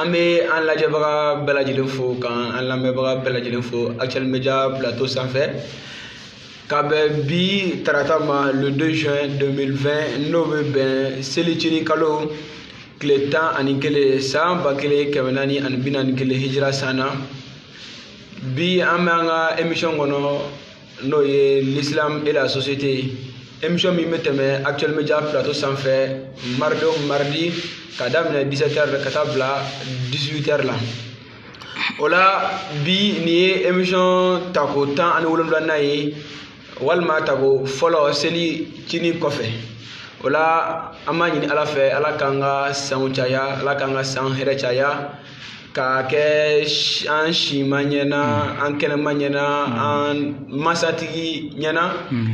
an bɛ an lajɛbaga bɛɛ lajɛlen fo k'an an lamɛnbaga bɛɛ lajɛlen fo actuel media plateau sanfɛ ka bɛn bi tarata ma le 2 juin 2020 n'o bɛ bɛn selicini kalo tile tan ani kelen san ba kelen kɛmɛ naani ani bi naani kelen hijira san na bi an bɛ an ka emission kɔnɔ n'o ye l'islam et la société ye émission min bɛ tɛmɛ actuel media plateau sanfɛ mardi o mardi ka daminɛ 17 heures ka taa bila 18 heures la o la bi nin ye émission tako tan ani wolonwulanan ye walima tako fɔlɔ selicini kɔfɛ o la an b'a ɲini ala fɛ ala k'an ka sanw caya ala k'an ka san hɛrɛ caya k'a kɛ an sima ɲɛna hmm. an kɛnɛma ɲɛna hmm. an masatigi ɲɛna hmm.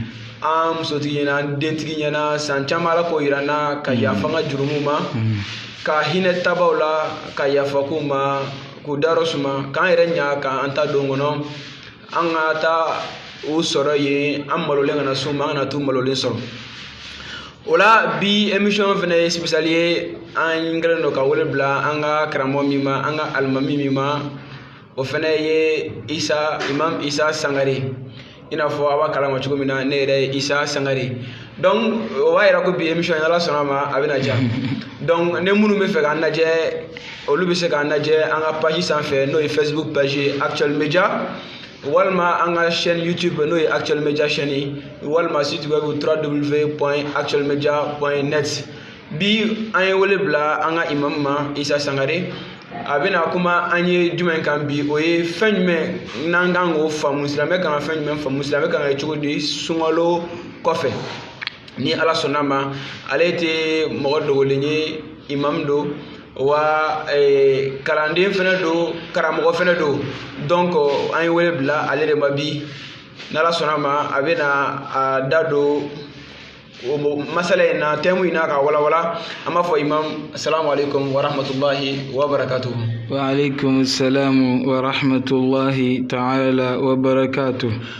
an musotigi ɲɛna an dentigi ɲɛna san caman ala k'o yira an na ka yafa an ka jurumu ma ka hinɛ taabaw la ka yafa k'u ma k'u dayɔrɔ suma k'an yɛrɛ ɲa k'an taadon kɔnɔ an ka taa u sɔrɔ yen an malolen kana s'u ma an kana t'u malolen sɔrɔ o la bi émission fɛnɛ ye spécial ye an kɛlen don ka wele bila an ka karamɔgɔ min ma an ka alimami min ma o fɛnɛ ye isa imam isa sangare i n'a fɔ a b'a kalama cogo min na ne yɛrɛ ye isa sangare donc o b'a yira ko bi émission ala sɔnna a ma a bɛna diya donc ni minnu bɛ fɛ k'an lajɛ olu bɛ se k'an lajɛ an ka page sanfɛ n'o ye facebook page actuel media walima an ka chaîne youtube n'o ye actuel media chaîne walima site web www.actuelmedia.net bi an ye wele bila an ka imam ma isa sangare a bɛna kuma an ye jumɛn kan bi o ye fɛn jumɛn n'an kan k'o faamu silamɛ kan ka fɛn jumɛn faamu silamɛ kan ka kɛ cogo di sunkalo kɔfɛ ni ala sɔnna ma ale tɛ mɔgɔ dogolen ye imam don wa eh, kalanden fɛnɛ don karamɔgɔ fɛnɛ don donc an ye wele bila ale de ma bi n'ala sɔnna ma a bɛna a da don masala in na thème in na ka walawala an b'a fɔ imam assalamu alaikum wa rahmatullahi wa barakatuhu wa alaikum salam wa rahmatullahi ta'ala wa barakatuhu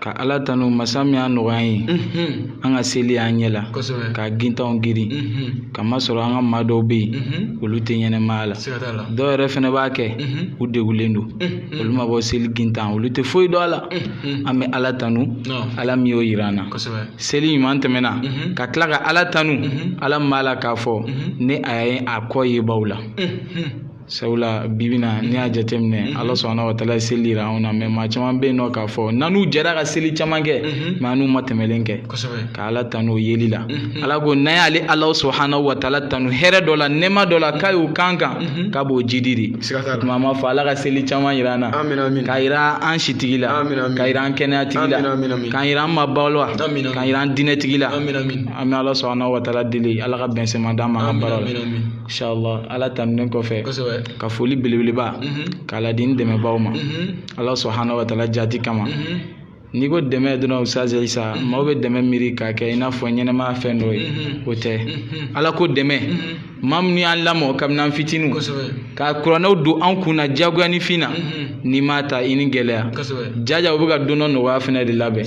Ka ala tanu masa min y'a nɔgɔya ye an ka seli an ɲɛ la ka gintanw girin k'a masɔrɔ an ka maa dɔw bɛ yen olu tɛ ɲɛnɛmaya la dɔw yɛrɛ fɛnɛ b'a kɛ u degulen don olu ma bɔ seli gintan olu tɛ foyi dɔn a la an bɛ ala tanu ala min y'o yira an na seli ɲuman tɛmɛna ka tila ka ala tanu ala min b'a la k'a fɔ ne a ye a kɔ yebaw la sabula bibi na n'i y'a jateminɛ mm-hmm. ala subhanahu wa taala ye seli yira anw na mɛ maa caman bɛ yen nɔ k'a fɔ n'an n'u jɛra ka seli caman kɛ mm-hmm. mɛ an n'u ma tɛmɛlen kɛ ka ala tanu o yeli la mm-hmm. ala ko n'an y'ale ala subhanahu wa taala tanu hɛrɛ dɔ la nɛɛma dɔ la k'a y'o kan kan k'a b'o jidi de tuma an b'a fɔ ala ka seli caman yira an na k'a yira an sitigi la k'a yira an kɛnɛya tigi la k'a yira an maaba la k'a yira an diinɛ tigi la an bɛ ala subhanahu wa taala deli ala ka bɛnsɛma d'an ma an ka baara la inshallah ala tanunen kɔfɛ ka foli belebeleba mhm. k'a ladi n dɛmɛbaaw ma mhm. ala subhanahu wa taala jati kama mhm. n'i ko dɛmɛ dɔrɔn ustaz isa maaw bɛ dɛmɛ miiri k'a kɛ i n'a fɔ ɲɛnɛmaya fɛn dɔ ye o tɛ ala ko dɛmɛ maa minnu y'an lamɔ kabini an fitiniw ka kuranɛw don an kun na diyagoya ni fɛn na n'i m'a ta i ni gɛlɛya jaja u bɛ ka don dɔ nɔgɔya fɛnɛ de labɛn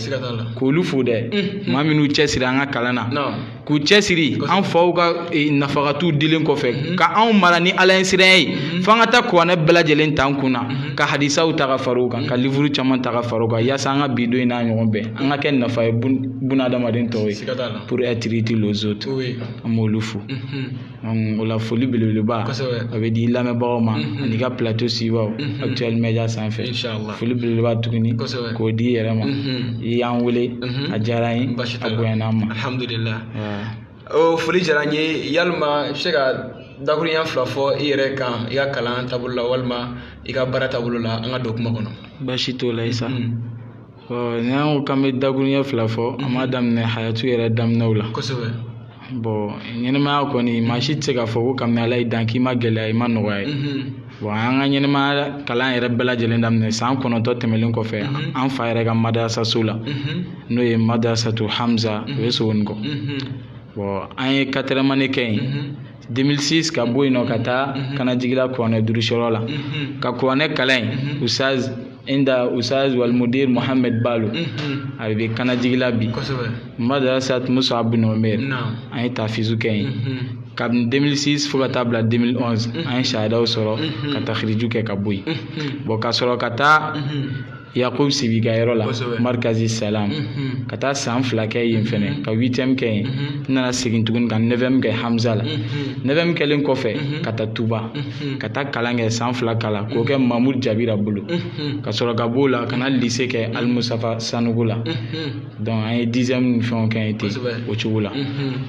k'olu fo dɛ maa minnu cɛsiri an ka kalan na k'u cɛsiri an faw ka eh, nafagatu dilen kɔfɛ mhm. ka anw mara ni ala ɲɛsiranya ye mhm. f'an ka taa kuranɛ bɛɛ lajɛlen t'an kun na mhm. ka hadisaw ta ka fara o kan ka livuru caman ta ka fara o kan yaasa an ka bi don in n'a ɲɔgɔn bɛɛ an ka kɛ nafa ye bunadamaden tɔw ye pour être utile aux autres an b'olu fo o la foli belebeleba a bɛ di lamɛnbagaw ma mhm. ani ka plateau sigibaaw mhm. actuel media sanfɛ foli belebeleba tuguni k'o d'i yɛrɛ ma mhm. i y'an wele a diyara n ye a bonyana n ma alhamdulilah o foli diyara n ye yalima i bɛ se ka dakuruɲɛ fila fɔ i yɛrɛ kan i ka kalan taabolo la walima i ka baara taabolo la an ka don kuma kɔnɔ baasi t'o la isa n'an ko k'an bɛ dakuruɲɛ fila fɔ an b'a daminɛ hayatu yɛrɛ daminɛw la kosɛbɛ bɔn ɲɛnɛmaya kɔni maa si tɛ se k'a fɔ ko kabini ala y'i dan k'i ma gɛlɛya i ma nɔgɔya ye bɔn an ka ɲɛnɛmaya kalan yɛrɛ bɛɛ lajɛlen daminɛ san kɔnɔntɔn tɛmɛlen kɔfɛ an fa yɛrɛ ka madarasaso la n'o ye madrasatu hamza o bɛ sogonikɔ bɔn an ye quatrième année kɛ yen 2006 ka bɔ yen nɔ ka taa mhm. kanajigila kuranɛ durusiyɔrɔ la mhm. ka kuranɛ kalan yen mhm. ustaz inda ustaz wal mudir mohamed balo a bɛ kanajigila bi madrasat mus'ab bin umair an ye tahfizu kɛ yen kabini 2006 fo ka taa bila 2011 an ye sahadaw sɔrɔ ka takhriju kɛ ka bɔ yen bɔn ka sɔrɔ ka taa yakubu sibi ka yɔrɔ la marikazi salam ka taa san fila kɛ yen fɛnɛ ka huitième kɛ yen n nana segin tuguni ka neuvième kɛ hamza la neuvième kɛlen kɔfɛ ka taa tuba ka taa kalan kɛ san fila kalan k'o kɛ mamud jabira bolo ka sɔrɔ ka b'o la ka na lise kɛ alimustafa sanɔgɔ la donc an ye dixième ni fɛnw kɛ yen ten o cogo la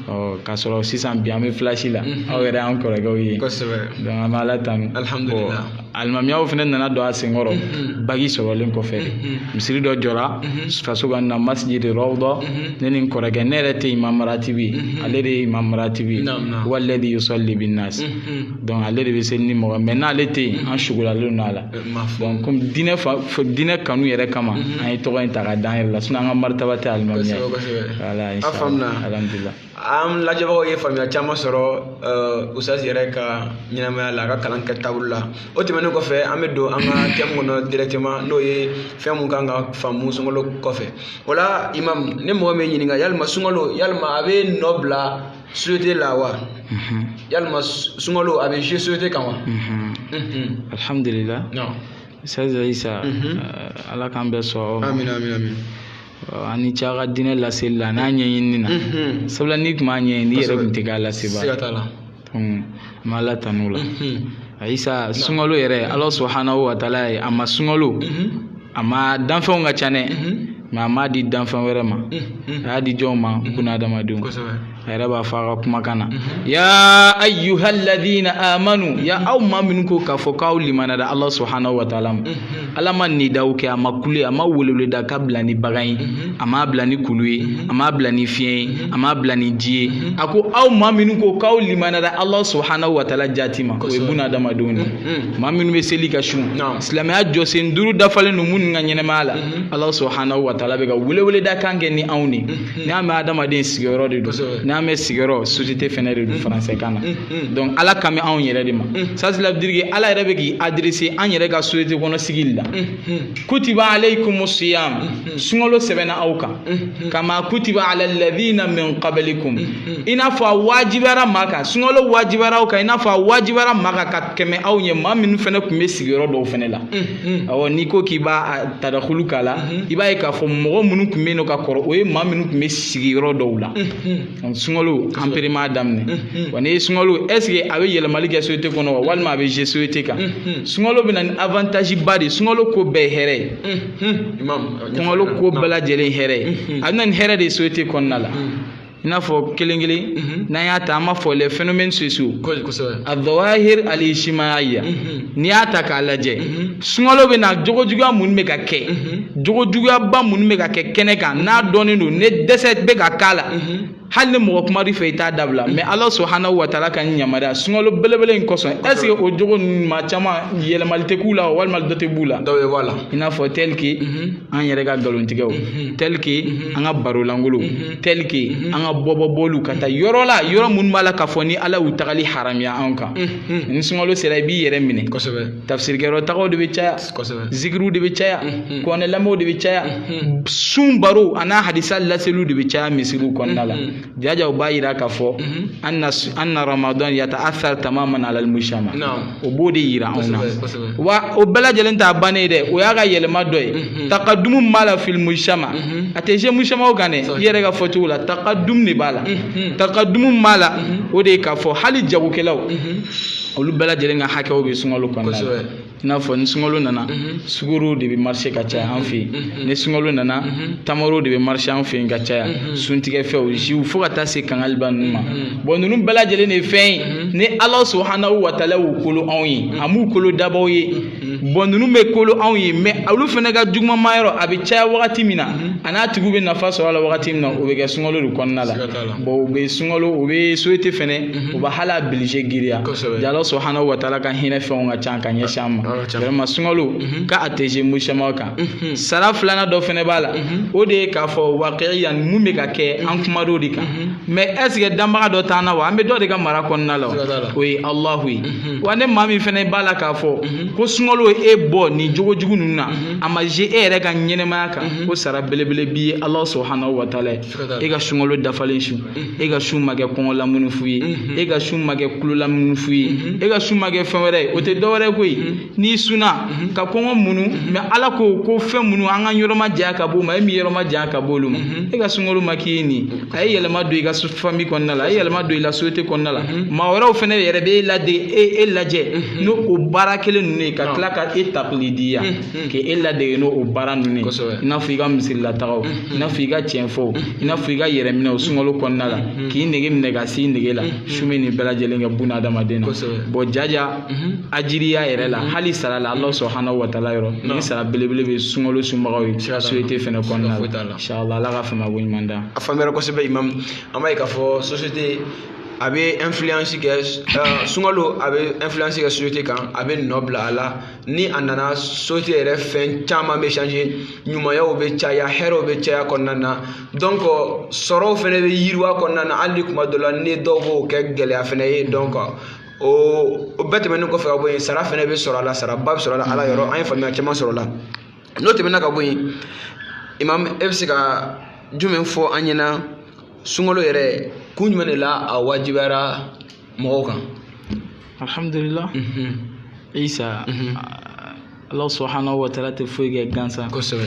ɔ ka sɔrɔ sisan bi an bɛ flash la aw yɛrɛ y'an kɔrɔkɛw ye donc an bɛ ala tanu alimamiyaw fana nana don a senkɔrɔ mhm. baki sɔrɔlen kɔfɛ mhm. misiri dɔ jɔra mhm. faso ka na masjid rawda ne ni n kɔrɔkɛ ne yɛrɛ tɛ imam ratibi ale de ye imam ratibi walladhi yusalli bin nas donc ale de bɛ seli ni mɔgɔ mais n'ale tɛ yen an sugulalen don a la donc comme diinɛ fa diinɛ kanu yɛrɛ kama an ye tɔgɔ in ta ka d'an yɛrɛ la sinon an ka maritaba tɛ alimamiya ye voilà alhamdulilah an lajɛbagaw ye faamuya caman sɔrɔ usazi yɛrɛ ka ɲɛnamaya la a ka kalan kɛ taabolo la o tɛmɛnen kɔfɛ an bɛ don an ka thème kɔnɔ directement n'o ye fɛn mun kan ka faamu sunkalo kɔfɛ o la imam ni mɔgɔ min ɲininka yalima sunkalo yalima a bɛ nɔ bila société la wa yalima sunkalo a bɛ jouer société kan wa alhamdulillah usazi isa ala k'an bɛɛ sɔn amina amina amina a ni ce a ka diinɛ laseli la n'a ɲɛɲinini na sabula n'i tun m'a ɲɛɲini i yɛrɛ tun tɛ k'a lasebaa siga t'a la an b'ala tanu o la isa sunkalo yɛrɛ ala subahana wa taala ye a ma sunkalo a ma danfɛnw ka ca dɛ mais a m'a di danfɛn wɛrɛ ma a y'a di jɔnw ma bunahadamadenw kosɛbɛ a yɛrɛ b'a fɔ a ka kumakan na ya ayyuhal ladina amanu ya aw maa minnu ko k'a fɔ k'aw limaniyara ala subhanahu wa taala ma ala ma nidaw kɛ a ma kule a ma weleweleda ka bila ni bagan ye a m'a bila ni kulu ye a m'a bila ni fiɲɛ ye a m'a bila ni ji ye a ko aw maa minnu ko k'aw limaniyara ala subhanahu wa taala jati ma o ye bunahadamadenw de ye maa minnu bɛ seli ka sun silamɛya jɔsen duuru dafalen don minnu ka ɲɛnamaya la ala subhanahu wa taala bɛ ka weleweleda kan kɛ ni anw de Hmm. N'a mɛn adamaden sigiyɔrɔ de don n'a mɛn sigiyɔrɔ société fɛnɛ de don hmm. français kan na hmm. donc ala kan bɛ anw yɛrɛ de ma c'est-à-dire que ala yɛrɛ bɛ k'i adresser an yɛrɛ ka société kɔnɔ sigili la kutiba alaykumus siyam sunkalo sɛbɛnna aw kan kama kutiba alal ladhina min qablikum i n'a fɔ a wajibiyara maa kan sunkalo wajibiyara aw kan i n'a fɔ a wajibiyara maa kan ka tɛmɛ aw ɲɛ maa minnu fɛnɛ tun bɛ sigiyɔrɔ dɔw fɛnɛ la Mm. awɔ n'i ko k'i b'a tadakulu k'a la mm-hmm. i b'a ye k'a fɔ mɔgɔ minnu tun bɛ yen nɔ ka kɔrɔ o ye maa minnu tun bɛ sigiyɔrɔ dɔw la mm-hmm. sunkalo an pe de m'a daminɛ mm-hmm. wa n'i ye sunkalo est-ce que a bɛ yɛlɛmali kɛ société kɔnɔ wa walima a bɛ jouer société kan sunkalo bɛ na ni avantage ba de ye sunkalo ko bɛɛ ye hɛrɛ ye sunkalo ko bɛɛ lajɛlen hɛrɛ ye a bɛ na ni hɛrɛ de ye société kɔnɔna la i n'a fɔ kelen kelen mhm. n'an y'a ta an b'a fɔ les phénomènes sociaux azawahir al-ijtimaiya mhm. n'i y'a ta k'a lajɛ mhm. sunkalo bɛ na jogo juguya minnu bɛ ka kɛ jogo juguyaba minnu bɛ ka kɛ kɛnɛ kan n'a dɔnnen don ne dɛsɛ bɛ ka k'a la hali ni mɔgɔ kuma i fɛ i t'a dabila mais ala subhanahu wa taala ka yamaruya sunkalo belebele in kosɔn est-ce que o jogo ninnu ma caman yɛlɛmali tɛ k'u la walima dɔ tɛ b'u la dɔw bɛ bɔ a la i n'a fɔ tel que an yɛrɛ ka nkalontigɛw tel que an ka baro lankolo tel que an ka bɔbɔ bɔliw ka taa yɔrɔ la yɔrɔ minnu b'a la k'a fɔ ni ala y'u tagali haramiya anw kan ni sunkalo sera i b'i yɛrɛ minɛ kosɛbɛ tafsirikɛyɔrɔ tagaw de bɛ caya kosɛbɛ zikiriw de bɛ caya kuranɛ lamɛnw de bɛ caya sun barow a n'a hadisa laseliw de bɛ caya misiriw kɔnɔna la jajaw b'a yira k'a fɔ anna ramadan yata'athar tamaman ala almujtama o b'o de yira anw na wa o bɛɛ lajɛlen t'a bannen dɛ o y'a ka yɛlɛma dɔ ye mhm. takadumu b'a la fil mujtama mhm. a tɛ jɛ mujtamaw kan dɛ i yɛrɛ ka fɔcogo la takadumu de b'a la mhm. takadumu b'a la o de ye k'a fɔ hali jagokɛlaw olu bɛɛ lajɛlen ka hakɛw bɛ sunkalo kɔnɔna la i n'a fɔ ni sunkalo nana sukoro de bɛ marché ka caya an fɛ yen ni sunkalo nana tamaro de bɛ marché an fɛ yen ka caya suntigɛfɛnw jiw fo ka taa se kangaliba ninnu ma bon ninnu bɛɛ lajɛlen de ye fɛn ye mhm. ni ala subahana wa taala y'u kolo anw ye mhm. a m'u kolo dabaw ye mhm. bon ninnu bɛ kolo anw ye mais olu fana ka jugumanma yɔrɔ a bɛ caya wagati min na a n'a tigiw bɛ nafa sɔrɔ a la wagati min na o bɛ kɛ sunkalo de kɔnɔna la bon u bɛ sunkalo u bɛ société fɛnɛ u bɛ hali a bilije giriya ala subahana wa taala ka hinɛ fɛnw ka ca ka ɲɛsin an ma vraiment sunkalo ka a tɛ jɛ mujtamaw kan sara filanan dɔ fɛnɛ b'a la o de ye k'a fɔ waqiya mun bɛ ka kɛ an kumatɔ o de kan mais est-ce que danbaga dɔ t'an na wa an bɛ dɔ de ka mara kɔnɔna la o ye alahu ye mhm. wa ne maa min fana b'a la k'a fɔ mhm. ko sunkalo ye e bɔ nin jogo jugu ninnu na mhm. a ma jɛ e yɛrɛ ka ɲɛnɛmaya kan ko sara belebele b'i ye alahu subahanahu wa taala ye e ka sunkalo dafalen sun e ka sun ma kɛ kɔngɔ lamunu fu ye e ka sun ma kɛ kulo lamunu fu ye e ka sun ma kɛ fɛn wɛrɛ ye o tɛ dɔ wɛrɛ ye koyi n'i sunna mhm. ka kɔngɔ munu mhm. mais ala ko ko fɛn minnu an ka yɔrɔ ma janya ka b'o ma e min yɔrɔ ma janya ka b'olu ma mhm. e ka sunkalo ma kɛ ni a ye yɛlɛma don i ka famille kɔnɔna la a ye yɛlɛma don i la société kɔnɔna la maa wɛrɛw fana yɛrɛ bɛ e lade e e lajɛ n'o o baara kelen ninnu ye ka tila ka e takilidiya k'e ladege n'o o baara ninnu ye i n'a fɔ i ka misirilatagaw i n'a fɔ i ka tiɲɛfɔw i n'a fɔ i ka yɛrɛminɛw sunkalo kɔnɔna la k'i nege minɛ ka s'i nege la sun bɛ nin bɛɛ lajɛlen kɛ buna adamaden na bon jaja Mhm. ajiriya yɛrɛ la mhm. hali sara la ala subahana wa taala yɔrɔ ni sara belebele bɛ sunkalo sunbagaw ye société fɛnɛ kɔnɔna la inshallah ala ka faamako ɲuman d'an a faamuyara kosɛbɛ imam an b'a ye k'a fɔ société a bɛ influence kɛ euh, sunkalo a bɛ influence kɛ société kan a bɛ nɔ bila a la ni a nana société yɛrɛ fɛn caman bɛ changer ɲumanyaw bɛ caya hɛrɛw bɛ caya kɔnɔna na donc sɔrɔw fɛnɛ bɛ yiriwa kɔnɔna na hali kuma dɔ la ni dɔw b'o kɛ gɛlɛya fɛnɛ ye donc o o bɛɛ tɛmɛnen kɔfɛ ka bɔ yen sara fana bɛ sɔrɔ a la saraba bɛ sɔrɔ a la ala yɔrɔ an ye faamuya caman sɔrɔ a la n'o tɛmɛna ka bɔ yen imam e bɛ se ka jumɛn fɔ an ɲɛna sunkalo yɛrɛ kun jumɛn de la a wajibiyara mɔgɔw kan alhamdulilah isa ala subahana wa taala tɛ foyi kɛ gansan kosɛbɛ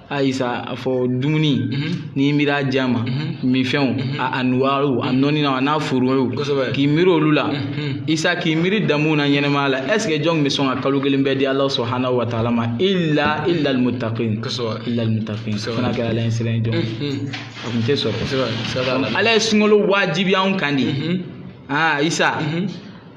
a isa a fɔ dumuni mhm. n'i miiri a ja ma mhm. minfɛnw mhm. a anuwaariw a nɔninaw a n'a furuw k'i miiri olu la isa k'i miiri damuw na ɲɛnamaya la est ce que jɔn bɛ sɔn ka kalo kelen bɛɛ di ala subhanahu wa taala ma illa illa almutaqin illa almutaqin fana kɛra ala ɲɛsiran jɔn a kun tɛ sɔrɔ ala ye sunkalo wajibiya anw kan de aa isa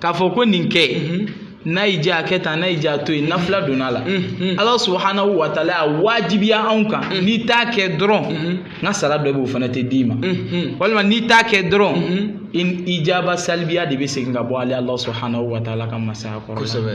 k'a fɔ ko nin kɛ mhm. n'a y'i diya a kɛ tan n'a y'i diya a to yen nafila donna a la mhm. ala subhanahu wa taala y'a wajibiya anw kan mhm. n'i t'a kɛ dɔrɔn n ka sara dɔ bɛ o fana tɛ d'i ma walima n'i t'a kɛ dɔrɔn ijaba salibiya de bɛ segin ka bɔ ale ala subhanahu wa taala ka masaya kɔrɔ kosɛbɛ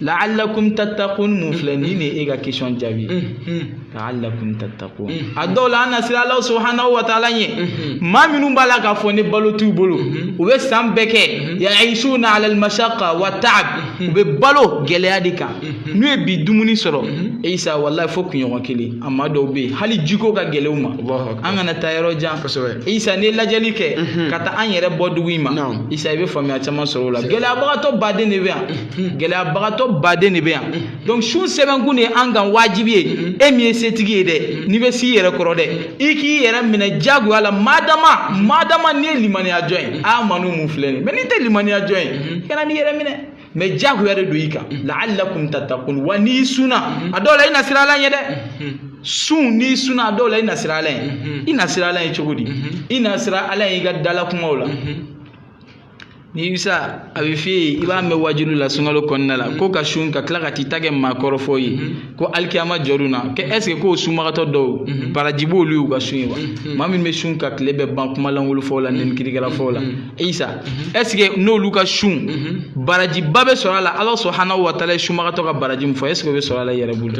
la'allakum tattaqun mun filɛ nin de ye e ka question jaabi la'allakum tattaqun a dɔw la an na siran Alahu subahanahu wa taala ɲɛ maa minnu b'a la k'a fɔ ni balo t'u bolo u bɛ san bɛɛ kɛ ya'ishuna ala al-mashaqqa wa ta'ab u bɛ balo gɛlɛya de kan n'u ye bi dumuni sɔrɔ isa walayi fo kunɲɔgɔn kelen a maa dɔw bɛ yen hali jiko ka gɛlɛn u ma an kana taa yɔrɔ jan isa n'i ye lajɛli kɛ ka taa an yɛrɛ bɔ dugu in ma isa i bɛ faamuya caman sɔrɔ o la gɛlɛyabagatɔ baden de bɛ yan gɛlɛyabagatɔ baden de bɛ yan donc sun sɛbɛnkun de ye an kan wajibi ye e min ye setigi ye dɛ n'i bɛ s'i yɛrɛ kɔrɔ dɛ i k'i yɛrɛ minɛ jagoya la madama madama n'i ye limaniya jɔn ye amanu mun filɛ nin mais n'i tɛ limaniya jɔn ye kana n'i yɛrɛ minɛ mais jagoya de don i kan la'allakum tattaqun wa n'i sunna a dɔw la i na siran ala ɲɛ dɛ sun n'i sunna a dɔw la i na siran ala ɲɛ i na siran ala ɲɛ cogo di i na siran ala ɲɛ i ka dalakumaw la ni isa a bɛ f'i ye i b'a mɛn wajuli la sunkalo kɔnɔna la ko ka sun ka tila ka t'i ta kɛ maakɔrɔfɔ ye ko alikiyama jɔr'u na kɛ est ce que ko sunbagatɔ dɔw baraji b'olu y'u ka sun ye wa maa min bɛ sun ka tile bɛɛ ban kuma lankolon fɔw la nɛni kirikɛla fɔw la isa est ce que n'olu ka sun barajiba bɛ sɔrɔ a la ala subhanahu wa taala ye sunbagatɔ ka baraji min fɔ est ce que o bɛ sɔrɔ a la yɛrɛ bolo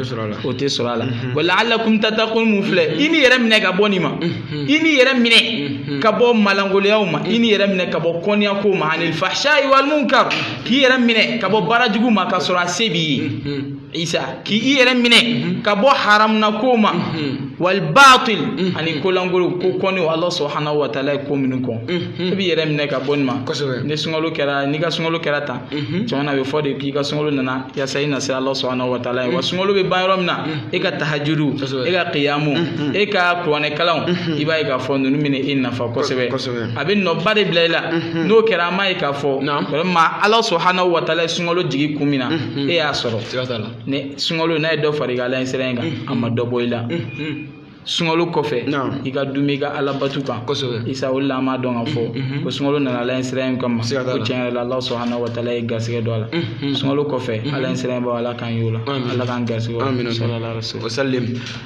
o tɛ sɔrɔ a la wa la'allakum tattaqun mun filɛ i n'i yɛrɛ minɛ ka bɔ nin ma Hmm. i n'i yɛrɛ minɛ hmm. ka bɔ malangoloyaw ma i n'i yɛrɛ minɛ ka bɔ kɔniyakow ma anil fahshayi wal munkar k'i yɛrɛ minɛ ka bɔ baara jugu ma ka sɔrɔ a se b'i ye hmm. isa k'i yɛrɛ minɛ ka bɔ haramunakow ma wal batil ani kolangolo ko kɔnniw ala subhanahu wa taala ye ko minnu kɔn e b'i yɛrɛ minɛ ka bɔ nin ma ni sunkalo kɛra n'i ka sunkalo kɛra tan Mhm. tuma na a bɛ fɔ de k'i ka sunkalo nana yasa i na siran ala subhanahu wa taala ɲɛ wa mhm. sunkalo bɛ ban yɔrɔ min na mhm. e ka tahajudu e ka kiyamu e ka kuranɛ kalanw i b'a ye k'a fɔ ninnu bɛna e nafa kosɛbɛ a bɛ nɔba de bila i la n'o kɛra an b'a ye k'a fɔ vraiment ala subhanahu wa taala ye sunkalo jigi kun min na e y'a sɔrɔ ni sunkalo n'a ye dɔ fara i ka ala ɲɛsiran in kan a ma dɔ bɔ i la. sunkalo kɔfɛ i ka duumɛ i ka ala batu kan kosɛbɛ isa o la an b'a dɔn k'a fɔ mm-hmm. ko sunkalo nana ala ɲɛsiran kama ko tiɲɛ yɛrɛ la ala subhanahu wa taala ye garisɛgɛ don a la mm-hmm. sunkalo kɔfɛ mm-hmm. ala ɲɛsiran b'a ala k'an y'o la ala k'an garisɛgɛ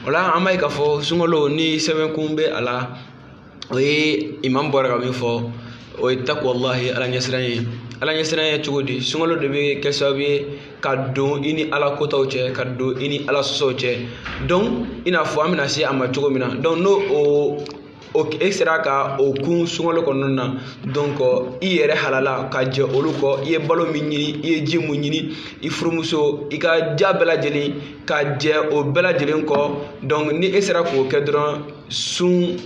o la an b'a ye k'a fɔ sunkalo ni sɛbɛnkun bɛ a la o ye imam bɔra ka min fɔ o ye taqwallahi ala ɲɛsiran ye ala ɲɛsiran ye cogo di sunkalo de bɛ kɛ sababu ye ka don i ni ala kotaw cɛ ka don i ni ala sɔsɔw cɛ donc i n'a fɔ an bɛna se a ma cogo min na donc n'o o o e sera ka o kun sunkalo kɔnɔna na donc i yɛrɛ halala ka jɛ olu kɔ i ye balo min ɲini i ye ji mun ɲini i furumuso i ka j'a bɛɛ lajɛlen ka jɛ o bɛɛ lajɛlen kɔ donc ni e sera k'o kɛ dɔrɔn sun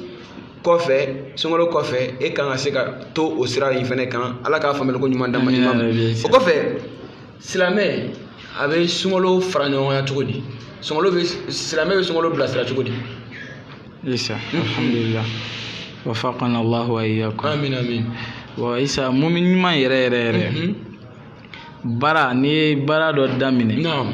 kɔfɛ sunkalo kɔfɛ e kan ka se ka to o sira in fɛnɛ kan ala k'a faamuyali ko ɲuman d'an ma o kɔfɛ silamɛ a bɛ sunkalo fara ɲɔgɔnya cogo di sunkalo bɛ silamɛ bɛ sunkalo bilasira cogo di. isa alhamdulilah wafaqana allahu wa iyyakum. amin amin. wa isa mumin ɲuman yɛrɛ yɛrɛ yɛrɛ. baara n'i ye baara dɔ daminɛ. naam.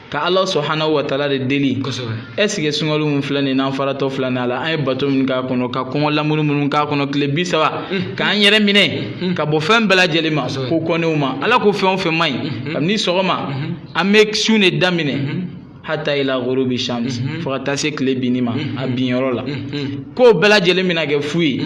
ka ala subhanahu wa taala de deli est ce que sunkalo min filɛ nin n'an faratɔ filɛ nin a la an ye bato min k'a kɔnɔ ka kɔngɔ lamuɲu minnu k'a kɔnɔ tile bi saba mm. k'an yɛrɛ minɛ mm. ka bɔ fɛn bɛɛ lajɛlen ma ko kɔnnenw ma ala ko fɛn o fɛn man ɲi mm-hmm. kabini sɔgɔma mm-hmm. an bɛ sun de daminɛ mm-hmm. hatta ila ghurubi shams fo ka taa se tile binni ma a binyɔrɔ la k'o bɛɛ lajɛlen bɛna kɛ fu ye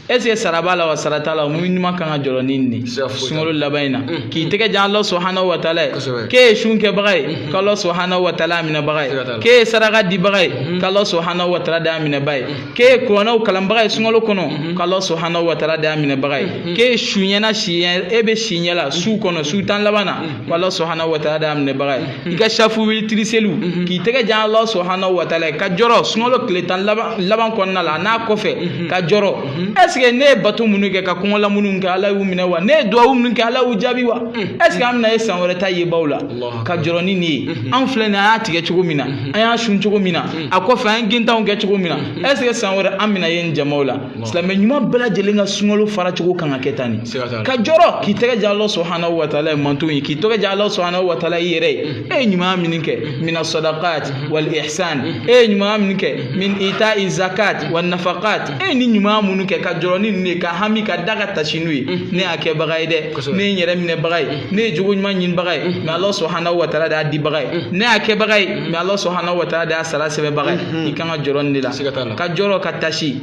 est ce que sara b'a la wa sara t'a la mumin ɲuman kan ka jɔrɔ ni nin de sunkalo laban in na k'i tɛgɛ jan ala subhanahu wa taala ye k'e ye sun kɛbaga ye k'ala subhanahu wa taala a minɛbaga ye k'e ye saraka dibaga ye k'ala subhanahu wa taala de y'a minɛba ye k'e ye kuranɛw kalanbaga ye sunkalo kɔnɔ k'ala subhanahu wa taala de y'a minɛbaga ye k'e ye su ɲɛna si e bɛ si ɲɛ la su kɔnɔ su tan laban na ko ala subhanahu wa taala d'a minɛbaga ye i ka safu witiri seliw mhm. k'i tɛgɛ jan ala subhanahu wa taala ye ka jɔrɔ sunkalo tile tan laban kɔnɔna la n'a kɔfɛ mhm. ka jɔrɔ mhm. est ce que ne ye bato minnu kɛ ka kɔngɔla minnu kɛ ala y'u minɛ wa ne ye duwawu minnu kɛ ala y'u jaabi wa est ce que an bɛna ye san wɛrɛ ta yebaw la ka jɔrɔ ni nin ye an filɛ nin an y'a tigɛ cogo min na an y'a sun cogo min na a kɔfɛ an ye gintanw kɛ cogo min na est ce que san wɛrɛ an bɛna ye nin jamaw la silamɛ ɲuman bɛɛ lajɛlen ka sunkalo fara cogo kan ka kɛ tan de ka jɔrɔ k'i tɛgɛ jan ala subahanahu wa taala ye mantonw ye k'i tɛgɛ jan ala subahanahu wa taala i yɛrɛ ye mm-hmm. e ye ɲumanya min kɛ mm-hmm. mina sadakat mm-hmm. wal ihsan e ye ɲumanya min kɛ min ita zakat wa nafakat e ye nin ɲumanya minnu kɛ ka jɔrɔ ni ninnu ye ka hami ka da ka taasi n'u ye ne y'a kɛbaga ye dɛ ne ye n yɛrɛ minɛbaga ye ne ye jogo ɲuman ɲinibaga ye mais ala subahanahu wa taala de y'a dibaga ye ne y'a kɛbaga ye mais ala subahanahu wa taala de y'a sara sɛbɛbaga ye i kan ka jɔrɔ nin de la ka jɔrɔ ka tasi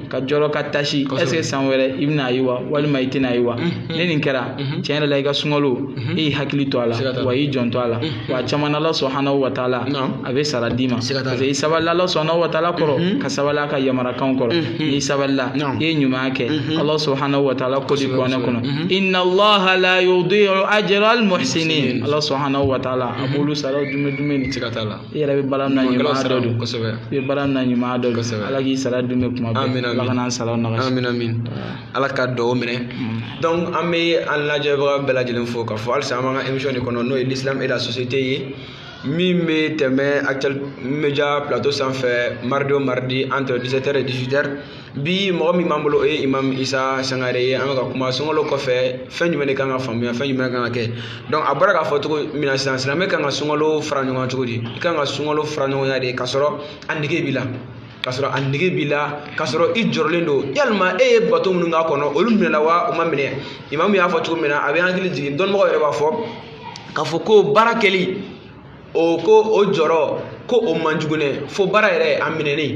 ka jɔrɔ ka tasi est-ce que san wɛrɛ i bɛna a ye wa walima i tɛna a ye wa ne nin kɛra tiɲɛ yɛrɛ la i ka sunkalo e y'i hakili to a la wa i janto a la wa caman ala subhanahu wa taala a bɛ sara d'i ma parce que i sabalila ala subhanahu wa taala kɔrɔ ka sabali a ka yamarakanw kɔrɔ n'i sabalila i ye ɲuman kɛ ala subhanahu wa taala ko di kuranɛ kɔnɔ inna allaha la yudi'u ajra al muhsinin ala subhanahu wa taala a b'olu sara dumuni dumuni ni siga t'a la i yɛrɛ bɛ baara min na ɲuman dɔ don i bɛ baara min na ɲuman dɔ don ala k'i sara dun bɛ kuma bɛɛ ala kana sara nɔgɔya amin amin ala ka dugawu minɛ donc an bɛ an lajɛbaga bɛɛ lajɛlen fo k'a fɔ halisa an b'an ka émission de kɔnɔ n'o ye l'islam et la société ye min bɛ tɛmɛ actuel media plateau sanfɛ mardi o mardi entre 17 heures et 18 heures bi mɔgɔ min b'an bolo o ye imam isa sangare ye an bɛ ka kuma sunkalo kɔfɛ fɛn jumɛn de kan ka faamuya fɛn jumɛn kan ka kɛ donc a bɔra k'a fɔ cogo min na sisan silamɛ kan ka sunkalo fara ɲɔgɔn cogo di i kan ka sunkalo fara ɲɔgɔnya de k'a sɔrɔ a nege b'i la k'a sɔrɔ a nege b'i la k'a sɔrɔ i jɔrɔlen don yalima e ye bato minnu k'a kɔnɔ olu minɛla wa u ma minɛ imamu y'a fɔ cogo min na a bɛ hakili jigin dɔnnibagaw yɛrɛ b'a fɔ k'a fɔ ko baara kɛli o ko o jɔrɔ ko o man jugu dɛ fo baara yɛrɛ a minɛni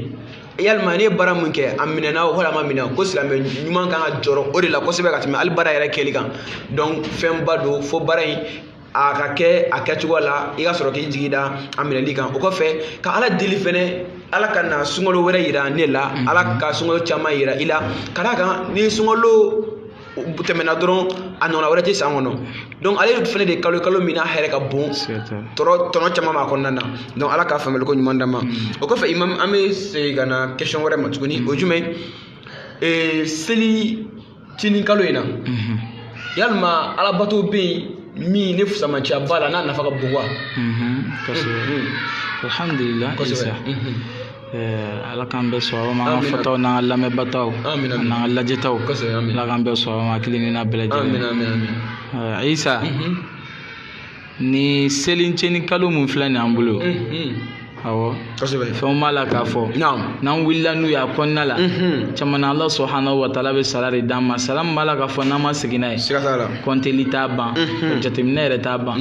yalima ne ye baara min kɛ a minɛna o wala a ma minɛ ko silamɛ ɲuman kan ka jɔrɔ o de la kosɛbɛ ka tɛmɛ hali baara yɛrɛ kɛli kan donc fɛnba don fo baara in a ka kɛ a kɛcogo la i ka sɔrɔ k'i jigi da a minɛli kan o kɔfɛ ka ala deli fɛnɛ ala ka na sunkalo wɛrɛ yira ne la ala ka sunkalo caman yira i la ka d'a kan ni sunkalo u tɛmɛna dɔrɔn a ɲɔgɔnna wɛrɛ tɛ san kɔnɔ donc ale fɛnɛ de kalo kalo min n'a hɛrɛ ka bon tɔnɔ caman b'a kɔnɔna na donc ala ka faamuyali ko ɲuman d'an ma o kɔfɛ imam an bɛ segin ka na question wɛrɛ ma tuguni o jumɛn ee seli tinin kalo in na yalima alabato bɛ yen min ne fusamaciya b'a la n'a nafa ka bon wa alhamdulilah ala k'an bɛɛ sɔn an ka fɔtaw n'an ka lamɛnbataw n'an ka lajɛtaw ala k'an bɛɛ sɔn ma kelen n'a bɛɛ lajɛlen isa ni seliceni kalo min filɛ nin an bolo awɔ kosɛbɛ fɛnw b'a la k'a fɔ n'an wulila n'u ye a kɔnɔna la caman na ala subhanahu wa taala bɛ sara de d'an ma sara min b'a la k'a fɔ n'an ma segin n'a ye siga t'a la kɔnteli t'a ban jateminɛ yɛrɛ t'a ban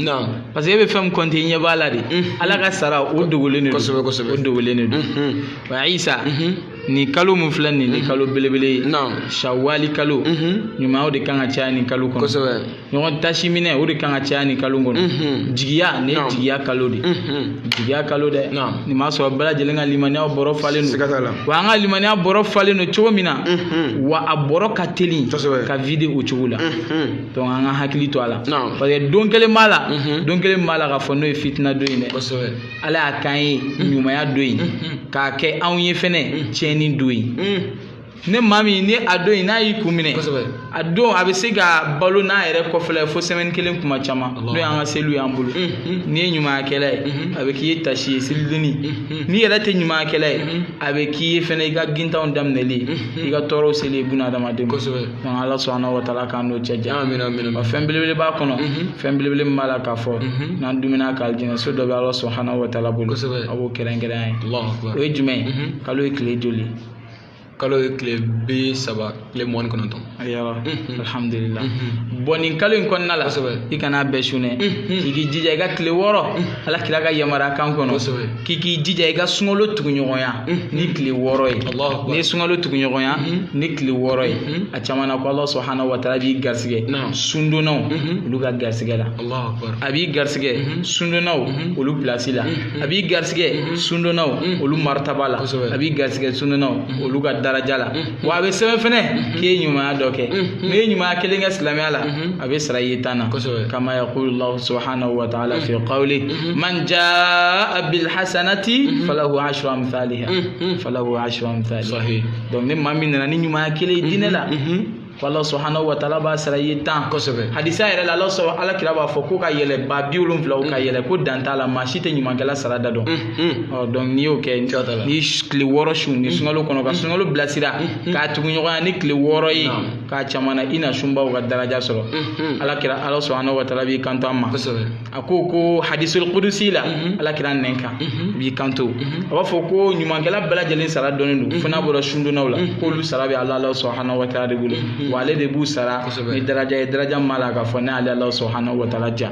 parce que e bɛ fɛn kɔnte i ɲɛ b'a la de mhm. ala ka sara o dogolen de kosɛbɛ kosɛbɛ o dogolen de don mhm. wa isa mhm. nin kalo min filɛ nin ni kalo belebele ye shawali kalo ɲuman o de kan ka caya nin kalo kɔnɔ kosɛbɛ ɲɔgɔn tasi minɛ o de kan ka caya nin kalo kɔnɔ jigiya nin ye jigiya kalo de jigiya kalo dɛ nin b'a sɔrɔ bɛɛ lajɛlen ka limaniya bɔrɔ falen don wa an ka limaniya bɔrɔ falen don cogo min na wa a bɔrɔ ka teli ka vide o cogo la donc an ka hakili to a la parce que don kelen b'a la mhm. don kelen b'a la k'a fɔ n'o ye fitina don ye dɛ ala y'a k'an ye mhm. ɲumanya don ye mhm. k'a kɛ anw ye fɛnɛ tiɲɛni don ye ne maa min ni a don in n'a y'i kun minɛ a don a bɛ se ka balo n'a yɛrɛ kɔfɛla ye fo semaine kelen kuma caman n'o y'an ka seliw y'an bolo n'i ye ɲumankɛla ye a bɛ k'i ye tasi ye selidon in n'i yɛrɛ tɛ ɲumankɛla ye a bɛ k'i ye fɛnɛ i ka gintanw daminɛli ye i ka tɔɔrɔw seli ye bunadamaden ma donc ala subhanahu wa ta'ala k'an n'o cɛ janya wa fɛn belebele b'a kɔnɔ fɛn belebele min b'a la k'a fɔ n'an dumuni k'alijinɛ so dɔ bɛ ala subhanahu wa ta'ala bolo a b'o kɛrɛnkɛrɛn ye o ye jumɛn ye kalo ye tile joli kalo ye tile bi saba tile mugan ni kɔnɔntɔn ayiwa alihamdulila bon nin kalo in kɔnɔna la i kana bɛɛ sun e k'i jija i ka tile wɔɔrɔ ala kira ka yamaruya kan kɔnɔ k'i k'i jija i ka sunkalo tuguɲɔgɔnya ni tile wɔɔrɔ ye n'i ye sunkalo tuguɲɔgɔnya ni tile wɔɔrɔ ye a caman na ko ala subhanahu wa ta'ala b'i garisigɛ sundonnaw olu ka garisigɛ la a b'i garisigɛ sundonnaw olu place la a b'i garisigɛ sundonnaw olu maritaba la a b'i garisigɛ sundonnaw olu ka daraja la wa a bɛ sɛbɛn fɛnɛ k'i ye ɲumanya dɔ kɛ n'i ye ɲumanya kelen kɛ silamɛya la a bɛ sara i ye tan na kama yaqulu Allahu subhanahu wa ta'ala fi qawli man jaa bil hasanati falahu ashru amthaliha falahu ashru amthaliha donc ni maa min nana ni ɲumanya kelen ye diinɛ la Allahu subhanahu wa ta'ala b'a sara i ye tan kosɛbɛ hadisa yɛrɛ la ala kira b'a fɔ ko ka yɛlɛ ba bi wolonwula o ka yɛlɛ ko dan t'a la maa si tɛ ɲumankɛla sara da dɔn donc n'i y'o kɛ ni tile wɔɔrɔ sun ni sunkalo kɔnɔ ka sunkalo bilasira k'a tuguɲɔgɔnya ni tile wɔɔrɔ ye k'a caman na i na sunbaw ka daraja sɔrɔ ala kira ala subhanahu wa ta'ala b'i kanto an ma a ko ko hadisul qudusi la ala kira nɛn kan b'i kanto a b'a fɔ ko ɲumankɛla bɛɛ lajɛlen sara dɔnnen don fo n'a bɔra sundonnaw la k'olu sara bɛ ala subhanahu wa ta'ala de bolo wa ale de b'u sara ni daraja ye daraja min b'a la k'a fɔ ne ala subhanahu wa ta'ala jɔn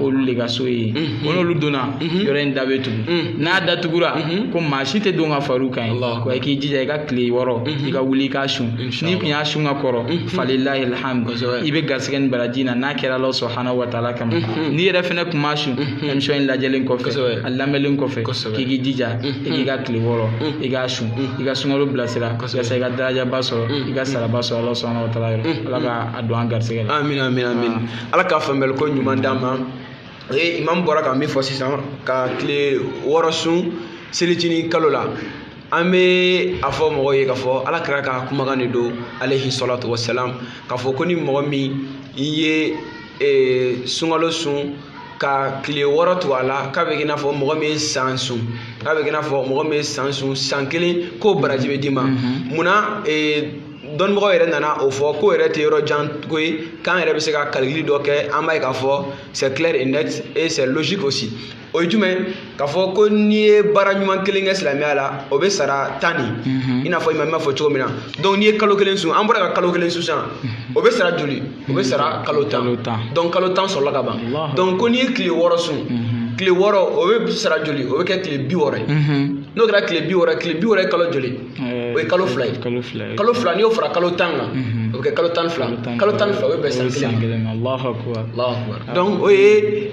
olu de ka so ye ko n'olu donna yɔrɔ in da bɛ tugu n'a datugura ko maa si tɛ don ka far'u kan yen wa i k'i jija i ka tile wɔɔrɔ i ka wuli i k'a sun n'i tun y'a sun ka kɔrɔ falilahi alhamdu i bɛ garisɛgɛ nin baraji na n'a kɛra Alahu subahana wa taala kama n'i yɛrɛ fɛnɛ tun m'a sun émission in lajɛlen kɔfɛ a lamɛnlen kɔfɛ k'i k'i jija i k'i ka tile wɔɔrɔ i k'a sun i ka sunkalo bilasira yasa i ka darajaba sɔrɔ i ka saraba sɔrɔ Alahu subahana wa taala yɔrɔ Ala ka a don an garisɛgɛ la. ala ka faamuyali ko ɲuman d'an ma o ye imamu bɔra ka min fɔ sisan ka tile wɔɔrɔ sun selicinin kalo la an bɛ a fɔ mɔgɔw ye k'a fɔ ala kira ka kumakan de don alehi salatu wasalam k'a fɔ ko ni mɔgɔ min ye e, sunkalo sun ka tile wɔɔrɔ tugu a la k'a bɛ k'i n'a fɔ mɔgɔ min ye san sun k'a bɛ k'i n'a fɔ mɔgɔ min ye san sun san kelen k'o baraji bɛ d'i ma mhm. munna e, dɔnnibagaw yɛrɛ nana o fɔ k'o yɛrɛ tɛ yɔrɔ jan ko ye k'an yɛrɛ bɛ se ka kalikili dɔ kɛ an b'a ye k'a fɔ c'est clair et net et c'est logique aussi o ye jumɛn k'a fɔ ko n'i ye baara ɲuman kelen kɛ silamɛya la o bɛ sara tan de mhm. i n'a fɔ imam b'a fɔ cogo min na donc n'i ye kalo kelen sun an bɔra ka kalo kelen sun sisan mhm. o bɛ sara joli o bɛ sara kalo tan donc kalo tan sɔrɔla ka ban donc ko n'i ye tile wɔɔrɔ sun mhm. tile wɔɔrɔ o bɛ sara joli o bɛ kɛ tile bi wɔɔrɔ ye n'o kɛra tile bi wɔɔrɔ tile bi wɔɔrɔ ye kalo joli o ye kalo fila ye kalo fila ye kalo fila n'i y'o fara kalo tan kan o bɛ kɛ kalo tan fila kalo tan fila o bɛ bɛn san kelen ma kelen ma Allahu akbar Allahu akbar donc o ye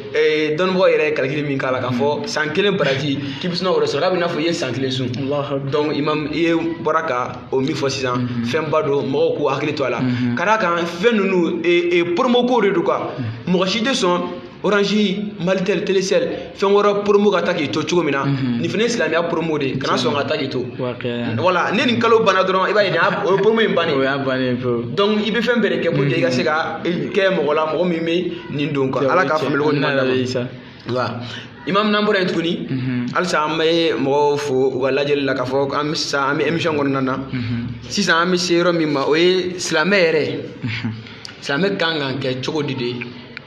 dɔnnibagaw yɛrɛ ye kalikili min k'a la k'a fɔ san kelen baraji k'i bɛ sun k'o de sɔrɔ k'a bɛ i n'a fɔ i ye san kelen sun donc imam i ye bɔra ka o min fɔ sisan fɛnba don mɔgɔw k'u hakili to a la ka d'a kan fɛn ninnu promo ko de don quoi mɔgɔ si tɛ sɔn orange malitel telecel fɛn wɛrɛ promo ka taa k'i to cogo min na mhm. nin fana ye silamɛya promo de ye kana sɔn ka taa k'i to voilà ni nin kalo banna dɔrɔn i b'a ye nin o ye promo in bannen o y'a bannen pewu donc i bɛ fɛn bɛɛ de kɛ pour que i ka se ka mhm. kɛ mɔgɔ la mɔgɔ min bɛ nin don quoi ala k'a faamuyali ko ɲuman d'an ma imam n'an bɔra yen tuguni mhm. halisa an bɛ mɔgɔw fo u ka lajɛli la k'a fɔ an bɛ sisan an bɛ émission kɔnɔna na sisan an bɛ se yɔrɔ min ma o ye silamɛ yɛrɛ silamɛ kan ka kɛ cogo di de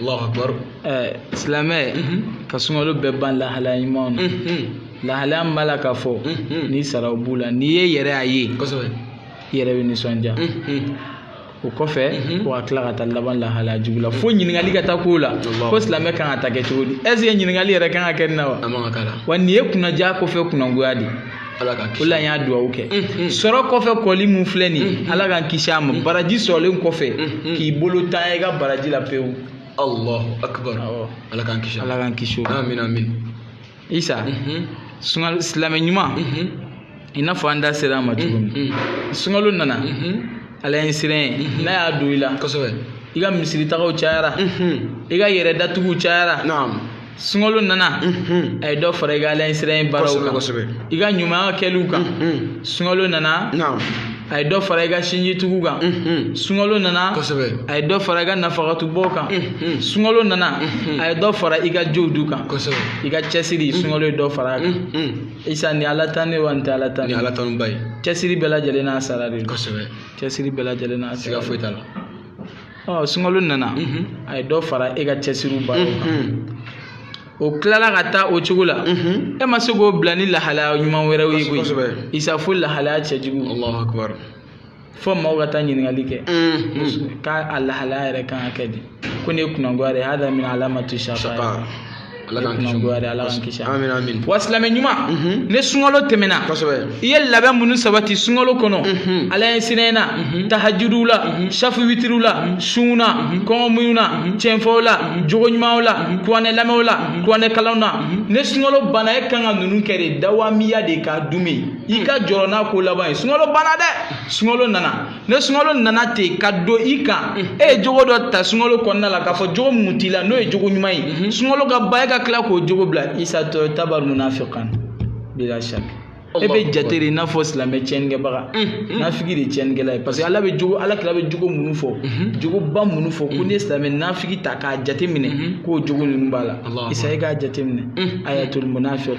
Allahu akbar ɛɛ silamɛ ka sunkalo bɛɛ ban lahalaya ɲumanw na lahalaya min b'a la k'a fɔ ni saraw b'u la n'i ye yɛrɛ y'a ye kosɛbɛ i yɛrɛ bɛ nisɔndiya o kɔfɛ ko ka tila ka taa laban lahalaya jugu la fo ɲininkali ka taa k'o la ko silamɛ kan ka taa kɛ cogo di est-ce que ɲininkali yɛrɛ kan ka kɛ nin na wa a man ka k'a la wa nin ye kunnadiya kɔfɛ kunnagoya de ye ala k'an kisi o la n y'a dugawu kɛ sɔrɔ kɔfɛ kɔli mun filɛ nin ye ala k'an kisi a ma baraji sɔrɔlen kɔfɛ k'i bolo tanya i ka baraji la pewu allahu akbar Awɔ. ala k'an kisi ala k'an kisi o ma amin amin isa sunkalo silamɛ ɲuman i n'a fɔ an da sera a ma cogo min sunkalo nana alaɲɛsiran ye n'a y'a don i la kosɛbɛ i ka misiritagaw cayara i ka yɛrɛ datuguw cayara naam sunkalo nana a ye dɔ fara i ka alaɲɛsiran baaraw kan i ka ɲumanya kɛliw kan sunkalo nana a ye dɔ fara i ka sinji tugu kan sunkalo nana a ye dɔ fara i ka nafakatubɔ kan sunkalo nana a ye dɔ fara i ka jowdu kan i ka cɛsiri sunkalo ye dɔ fara a kan isa ni ala tan ne wa ni tɛ ala tan ni ala tan ba ye cɛsiri bɛɛ lajɛlen n'a sara de cɛsiri bɛɛ lajɛlen n'a sara foyi t'a la ɔ sunkalo nana a ye dɔ fara e ka cɛsiriw baara kan o tilala ka taa o cogo la e ma se k'o bila ni lahalaya ɲuman wɛrɛw ye koyi isa fo lahalaya cɛjugu fo maaw ka taa ɲininkali kɛ k'a a lahalaya yɛrɛ kan ka kɛ di ko nin ye kunnagoya de ye hada min alamatu shaqa ala k'an kisi o ala k'an kisi amin amin wa silamɛ ɲuman mhm. ni sunkalo tɛmɛna kosɛbɛ i ye labɛn minnu sabati sunkalo kɔnɔ mhm. ala ɲɛsiran na mhm. tahajudu la safu witiriw la sunw na kɔngɔmuɲu na cɛnfɔw la jogo ɲumanw la kuranɛ lamɛnw la kuranɛ kalanw na ni sunkalo banna e kan ka ninnu kɛ de dawamiya de k'a duumɛ i ka jɔrɔ n'a ko laban ye sunkalo banna dɛ sunkalo nana ne sunkalo nana ten ka don i kan e ye jogo dɔ ta sunkalo kɔnɔna la k'a fɔ jogo min t'i la n'o ye jogo ɲuman ye sunkalo ka ban e ka tila k'o jogo bila isa tutabaru munafiqan bila shak e bɛ jate de i n'a fɔ silamɛ tiɲɛnikɛbaga nafigi de tiɲɛnikɛla ye parce que ala bɛ jogo ala kira bɛ jogo minnu fɔ jogoba minnu fɔ ko n'i ye silamɛ nafigi ta k'a jate minɛ k'o jogo ninnu b'a la isa e k'a jate minɛ ayatul munafiq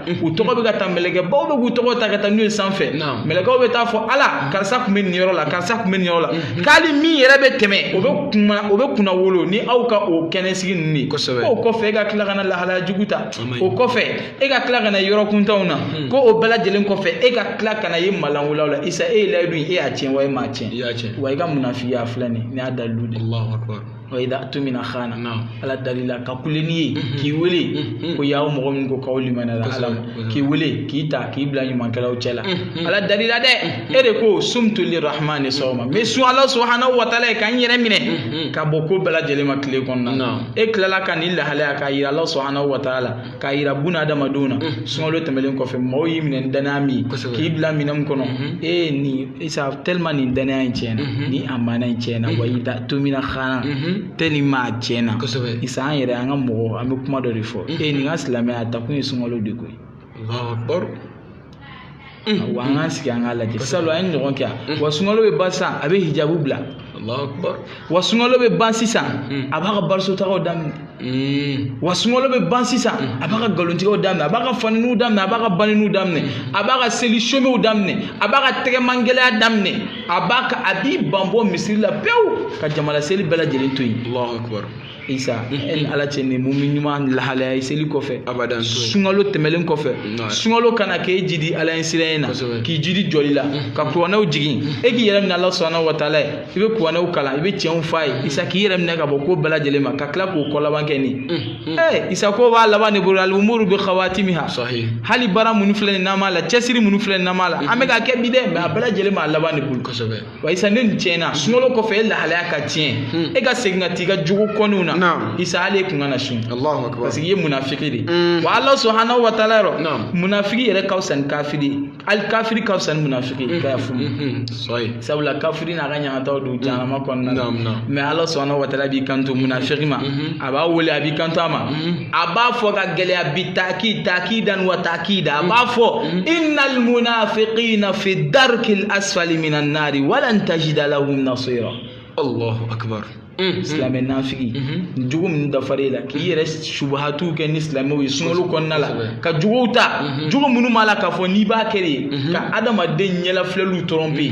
u tɔgɔ bɛ ka ta mɛlɛkɛbaw bɛ k'u tɔgɔ ta ka taa n'u ye sanfɛ mɛlɛkɛw bɛ taa fɔ ala karisa tun bɛ nin yɔrɔ la karisa tun bɛ nin yɔrɔ la k'ali min yɛrɛ bɛ tɛmɛ o bɛ kunna o bɛ kunnawolo ni aw ka o kɛnɛsigi ninnu ye kosɛbɛ o kɔfɛ e ka tila ka na lahalaya jugu ta o kɔfɛ e ka tila ka na yɔrɔ kuntanw na ko o bɛɛ lajɛlen kɔfɛ e ka tila ka na ye malanwulaw la isa e ye layidu ye e y'a tiɲɛ wa e m'a tiɲɛ wa i ka munafigiya filɛ nin ye nin y'a dalilu de ye wa idha utumina khana ala dar'i la ka kule ni ye mm-hmm. k'i wele mm-hmm. ko y'aw mɔgɔ min ko k'aw limaniyala ala k'i wele k'i ta k'i bila ɲumankɛlaw cɛ la mm-hmm. ala dar'i la dɛ e de ko sumtu lirahmani sawma n bɛ sun ala subahanahu wa taala ye ka n yɛrɛ minɛ ka bɔ ko bɛɛ lajɛlen ma tile kɔnɔna na e tilala ka nin lahalaya k'a yira ala subahanahu wa taala k'a yira buna adamadenw na mm-hmm. sunkalo tɛmɛlen kɔfɛ mɔgɔw y'i minɛ ni danaya min ye k'i bila minɛn min kɔnɔ mm-hmm. e ye nin isa tellement nin danaya in tiɲɛna mm-hmm. nin amana in tiɲɛna wa idha utumina khana tellement a tiɲɛna isa an yɛrɛ an ka mɔgɔ an bɛ kuma dɔ de fɔ e nin ka silamɛya a ta kun ye sunkalo de koyi wa an k'an sigi an k'a lajɛ salon an ye ɲɔgɔn kɛ yan wa sunkalo bɛ ban sisan a bɛ hijabu bila wa sunkalo bɛ ban sisan a b'a ka barisotagaw daminɛ wa sunkalo bɛ ban sisan a b'a ka nkalontigɛw daminɛ a b'a ka faniniw daminɛ a b'a ka baniniw daminɛ a b'a ka seli somew daminɛ a b'a ka tɛgɛmangɛlɛya daminɛ a b'a ka a b'i banbɔ misiri la pewu ka jamalaseli bɛɛ lajɛlen to yen isa e ni ala cɛ nin mumini ɲuman lahalaya ye seli kɔfɛ abadan sunkalo tɛmɛlen kɔfɛ sunkalo ka na k'e jidi ala ɲɛsiranɲɛ na k'i jidi jɔli la ka kuranɛw jigin e k'i yɛrɛ minɛ ala subahanahu wa taala ye i bɛ kuranɛw kalan i bɛ tiɲɛw f'a ye isa k'i yɛrɛ minɛ ka bɔ ko bɛɛ lajɛlen ma ka tila k'o ko laban kɛ nin ee isa ko b'a laban de bolo alumuru bi khawatimiha hali baara minnu filɛ nin n'an b'a la cɛsiri minnu filɛ nin n'an b'a la an bɛ ka kɛ bi dɛ mɛ a bɛɛ lajɛlen b'a laban de bolo kosɛbɛ wa isa ne nin tiɲɛna sunkalo kɔfɛ e lahalaya ka tiɲɛ e ka segin ka t'i ka jugu kɔniw na isa hali e kun kana sun parce que i ye munafiki de wa ala subahanahu wa taala yɔrɔ munafiki yɛrɛ ka fisa ni kafiri hali kafiri ka fisa ni munafiki i ka yafa sabula kafiri n'a ka ɲangataw don jahanama kɔnɔna na mɛ ala subahanahu wa taala b'i kanto munafiki ma a b'a wele a b'i kanto a ma mm-hmm. a b'a fɔ ka gɛlɛya bi taaki taakidan wa taakida a b'a mm-hmm. fɔ mm-hmm. innal munafiqina fi darkil asfali minan nari walan tajida lahum nasira allahu akbar silamɛ nafigi nin jogo min dafara e la k'i yɛrɛ subahatu kɛ ni silamɛw ye sunkalo kɔnɔna la ka jogow ta jogo minnu b'a la k'a fɔ n'i b'a kɛ de ka adamaden ɲɛlafilɛliw tromper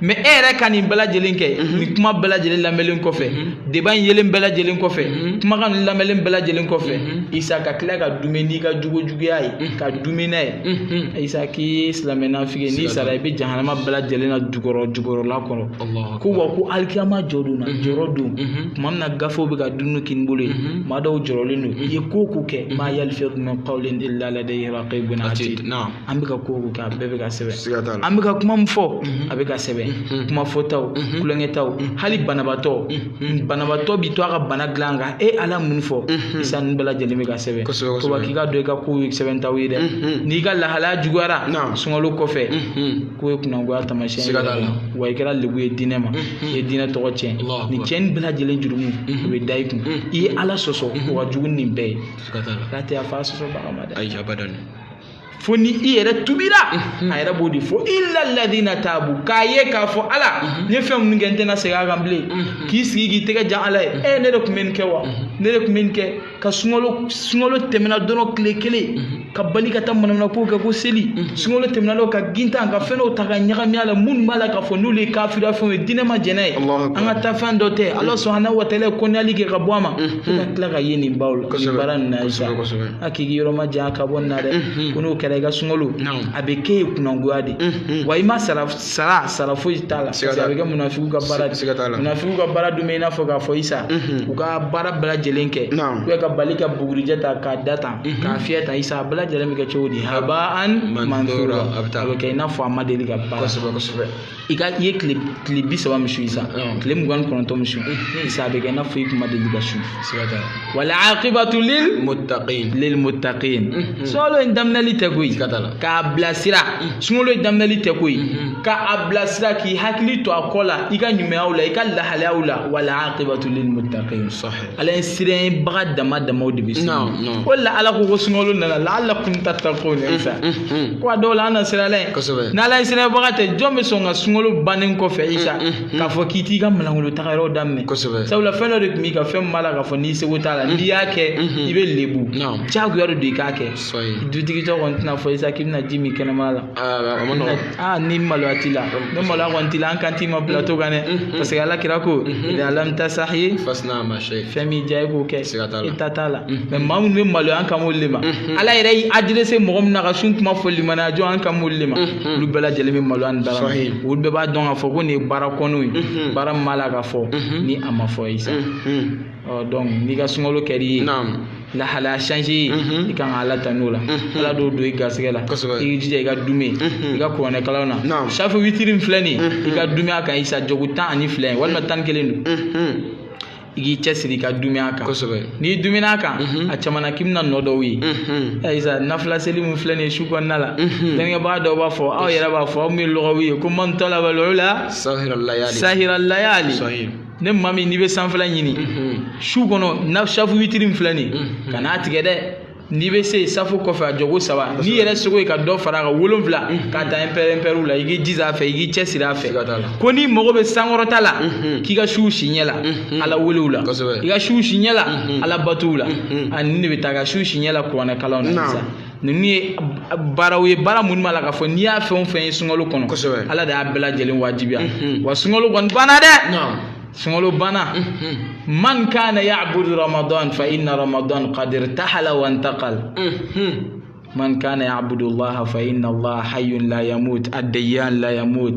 mais e yɛrɛ ka nin bɛɛ lajɛlen kɛ mhm. nin kuma bɛɛ lajɛlen lamɛnlen kɔfɛ mhm. débat in yelen bɛɛ lajɛlen kɔfɛ mhm. kumakan nin lamɛnlen bɛɛ lajɛlen kɔfɛ isa ka tila ka duumɛ n'i ka jogo juguya ye ka duumɛ n'a ye isa k'i ye silamɛ nafigi n'i sara i bɛ jahanama bɛɛ lajɛlen na jukɔrɔ jukɔrɔla kɔnɔ ko wa ko alikiyama jɔ don na jɔrɔ don tuma min na gafew bɛ ka don u kini bolo ye maa dɔw jɔrɔlen don i ye ko o ko kɛ maa yalfidu min qawlin illa ladayhi raqibun ati an bɛ ka ko o ko kɛ a bɛɛ bɛ ka sɛbɛn siga t'a la an bɛ ka kuma min fɔ a bɛ ka sɛbɛn kuma fɔtaw kulonkɛtaw hali banabaatɔ banabaatɔ bi to a ka bana dilan kan e ala min fɔ isa ninnu bɛɛ lajɛlen bɛ ka sɛbɛn Kosɛbɛ, kosɛbɛ. ko k'i k'a dɔn i ka kow ye sɛbɛntaw ye dɛ n'i ka lahalaya juguyara Naam. sunkalo kɔfɛ k'o ye kunangoya taamasiyɛn Siga t'a la. wa i kɛra lebu ye diinɛ ma i ye diinɛ tɔgɔ tiɲɛ Allahu nin akbar. cɛnni bɛɛ lajɛlen jurumu o bɛ da i kun i ye ala sɔsɔ o ka jugu ni nin bɛɛ ye siga t'a la k'a tɛ yafa a sɔsɔbaga ma dɛ ayi abadan fo ni i yɛrɛ tubira a yɛrɛ b'o de fɔ illa alladina tabu k'a ye k'a fɔ ala n ye fɛn minnu kɛ n tɛna segin a kan bilen k'i sigi k'i tɛgɛ jan ala ye e ne de tun bɛ nin kɛ wa ne de tun bɛ nin kɛ ka sunkalo sunkalo tɛmɛna dɔrɔn tile kelen ka bali ka taa manamanakow kɛ ko seli sunkalo tɛmɛna dɔrɔn ka gintan ka fɛn dɔw ta ka ɲagami a la minnu b'a la k'a fɔ n'olu ye kafira fɛnw ye diinɛ ma jɛn n'a ye an ka ta fɛn dɔ tɛ ala subahana wa taala ye kɔnɔyali kɛ ka bɔ a ma fo ka tila ka ye nin baw la nin baara nin na isa a k'i yɔrɔ man jan ka bɔ nin na dɛ mhm. ko n'o kɛra i ka sunkalo a bɛ k'e ye kunangoya de mhm. wa i ma sara sara sara foyi t'a la parce que a bɛ kɛ munafigiw ka baara de munafigiw ka baara dun bɛ i n'a fɔ k'a fɔ isa mhm. u ka baara bɛɛ lajɛlen kɛ ou bien ka bali ka bugurijɛ ta k'a da tan k'a fiyɛ tan isa a bɛɛ lajɛlen bɛ kɛ cogo di habaan manthura a bɛ kɛ i n'a fɔ a ma deli ka baara kosɛbɛ kosɛbɛ i ka i ye tile tile bi saba min sun isa tile mugan ni kɔnɔntɔn min sun isa a bɛ kɛ i n'a fɔ i kun ma deli ka sun wal akibatu lil muttaqin lil muttaqin sunkalo in daminɛli tɛ koyi k'a bilasira sunkalo in daminɛli tɛ koyi ka a bilasira k'i hakili to a kɔ la i ka ɲumanyaw la i ka lahalayaw la wal akibatu lil muttaqin sahih ala ɲɛsiranbaga dama damaw de bɛ se o la ala ko ko sunkalo nana laallakum tattakuna isa ko a dɔ la an na siran ala ɲɛ n'ala ɲɛsiranbaga tɛ jɔn bɛ sɔn ka sunkalo bannen kɔfɛ isa k'a fɔ k'i t'i ka malankolon taga yɔrɔ daminɛ sabula fɛn dɔ de tun b'i kan fɛn b'a la k'a fɔ n'i seko t'a la n'i y'a kɛ i bɛ lebu diyagoya de don i k'a kɛ dutigi tɔ kɔni tɛna fɔ isa k'i bɛna ji min kɛnɛma la aa ni maloya t'i la ni maloya kɔni t'i la an kan t'i ma plateau kan dɛ parce que ala kira ko idha lam tastahi fasna ma shi'ta fɛn min diya i k'o kɛ i ta t'a la mais maa minnu bɛ maloya an kan m'olu de ma ala yɛrɛ y'i adressé mɔgɔ min na ka sun kuma fɔ limaniya jɔn an kan m'olu de ma olu bɛɛ lajɛlen bɛ maloya nin dara olu bɛɛ b'a dɔn k'a fɔ ko nin ye baara kɔnɔw ye baara min b'a la k'a fɔ ni a ma fɔ isa donc n'i ka sunkalo kɛr'i ye lahalaya changé ye i kan ka ala tan'o la ala d'o don i garisɛgɛ la i jija i ka duumɛ i ka kuranɛ kalan na safu witiri min filɛ nin i ka duumɛ a kan isa jɔko tan ani fila ye walima tan ni kelen don i k'i cɛsiri ka duumɛ a kan n'i duumɛn'a kan a caman na k'i bɛna nɔ dɔw ye isa nafila seli min filɛ nin ye su kɔnɔna la dɛnkɛbaga dɔw b'a fɔ aw yɛrɛ b'a fɔ aw min ye lɔgɔw ye ko man talaba al-ula sahira layali ne maa min n'i bɛ sanfɛla ɲini su kɔnɔ na safu witiri min filɛ nin ye kan'a tigɛ dɛ n'i bɛ se safu kɔfɛ a jɔko saba n'i yɛrɛ seko ye ka dɔ fara a kan wolonwula ka taa ɛnpɛrɛnpɛrɛw la i k'i jija a fɛ i k'i cɛsiri a fɛ ko n'i mago bɛ sankɔrɔta la k'i ka suw si ɲɛ la ala welew la i ka suw si ɲɛ la ala batow la ani nin de bɛ taa ka suw si ɲɛ la kuranɛ kalanw na sisan ninnu ye baaraw ye baara minnu b'a la k'a fɔ n'i y'a fɛn o fɛn ye sunkalo kɔnɔ kosɛbɛ ala de y'a bɛɛ lajɛlen wajibiya wa sunkalo kɔni banna dɛ sunkalo banna man kana ya'budu ramadan fa inna ramadan qad irtahala wa intaqal man kana ya'budu allaha fa inna allaha hayyun la yamut ad-dayyan la yamut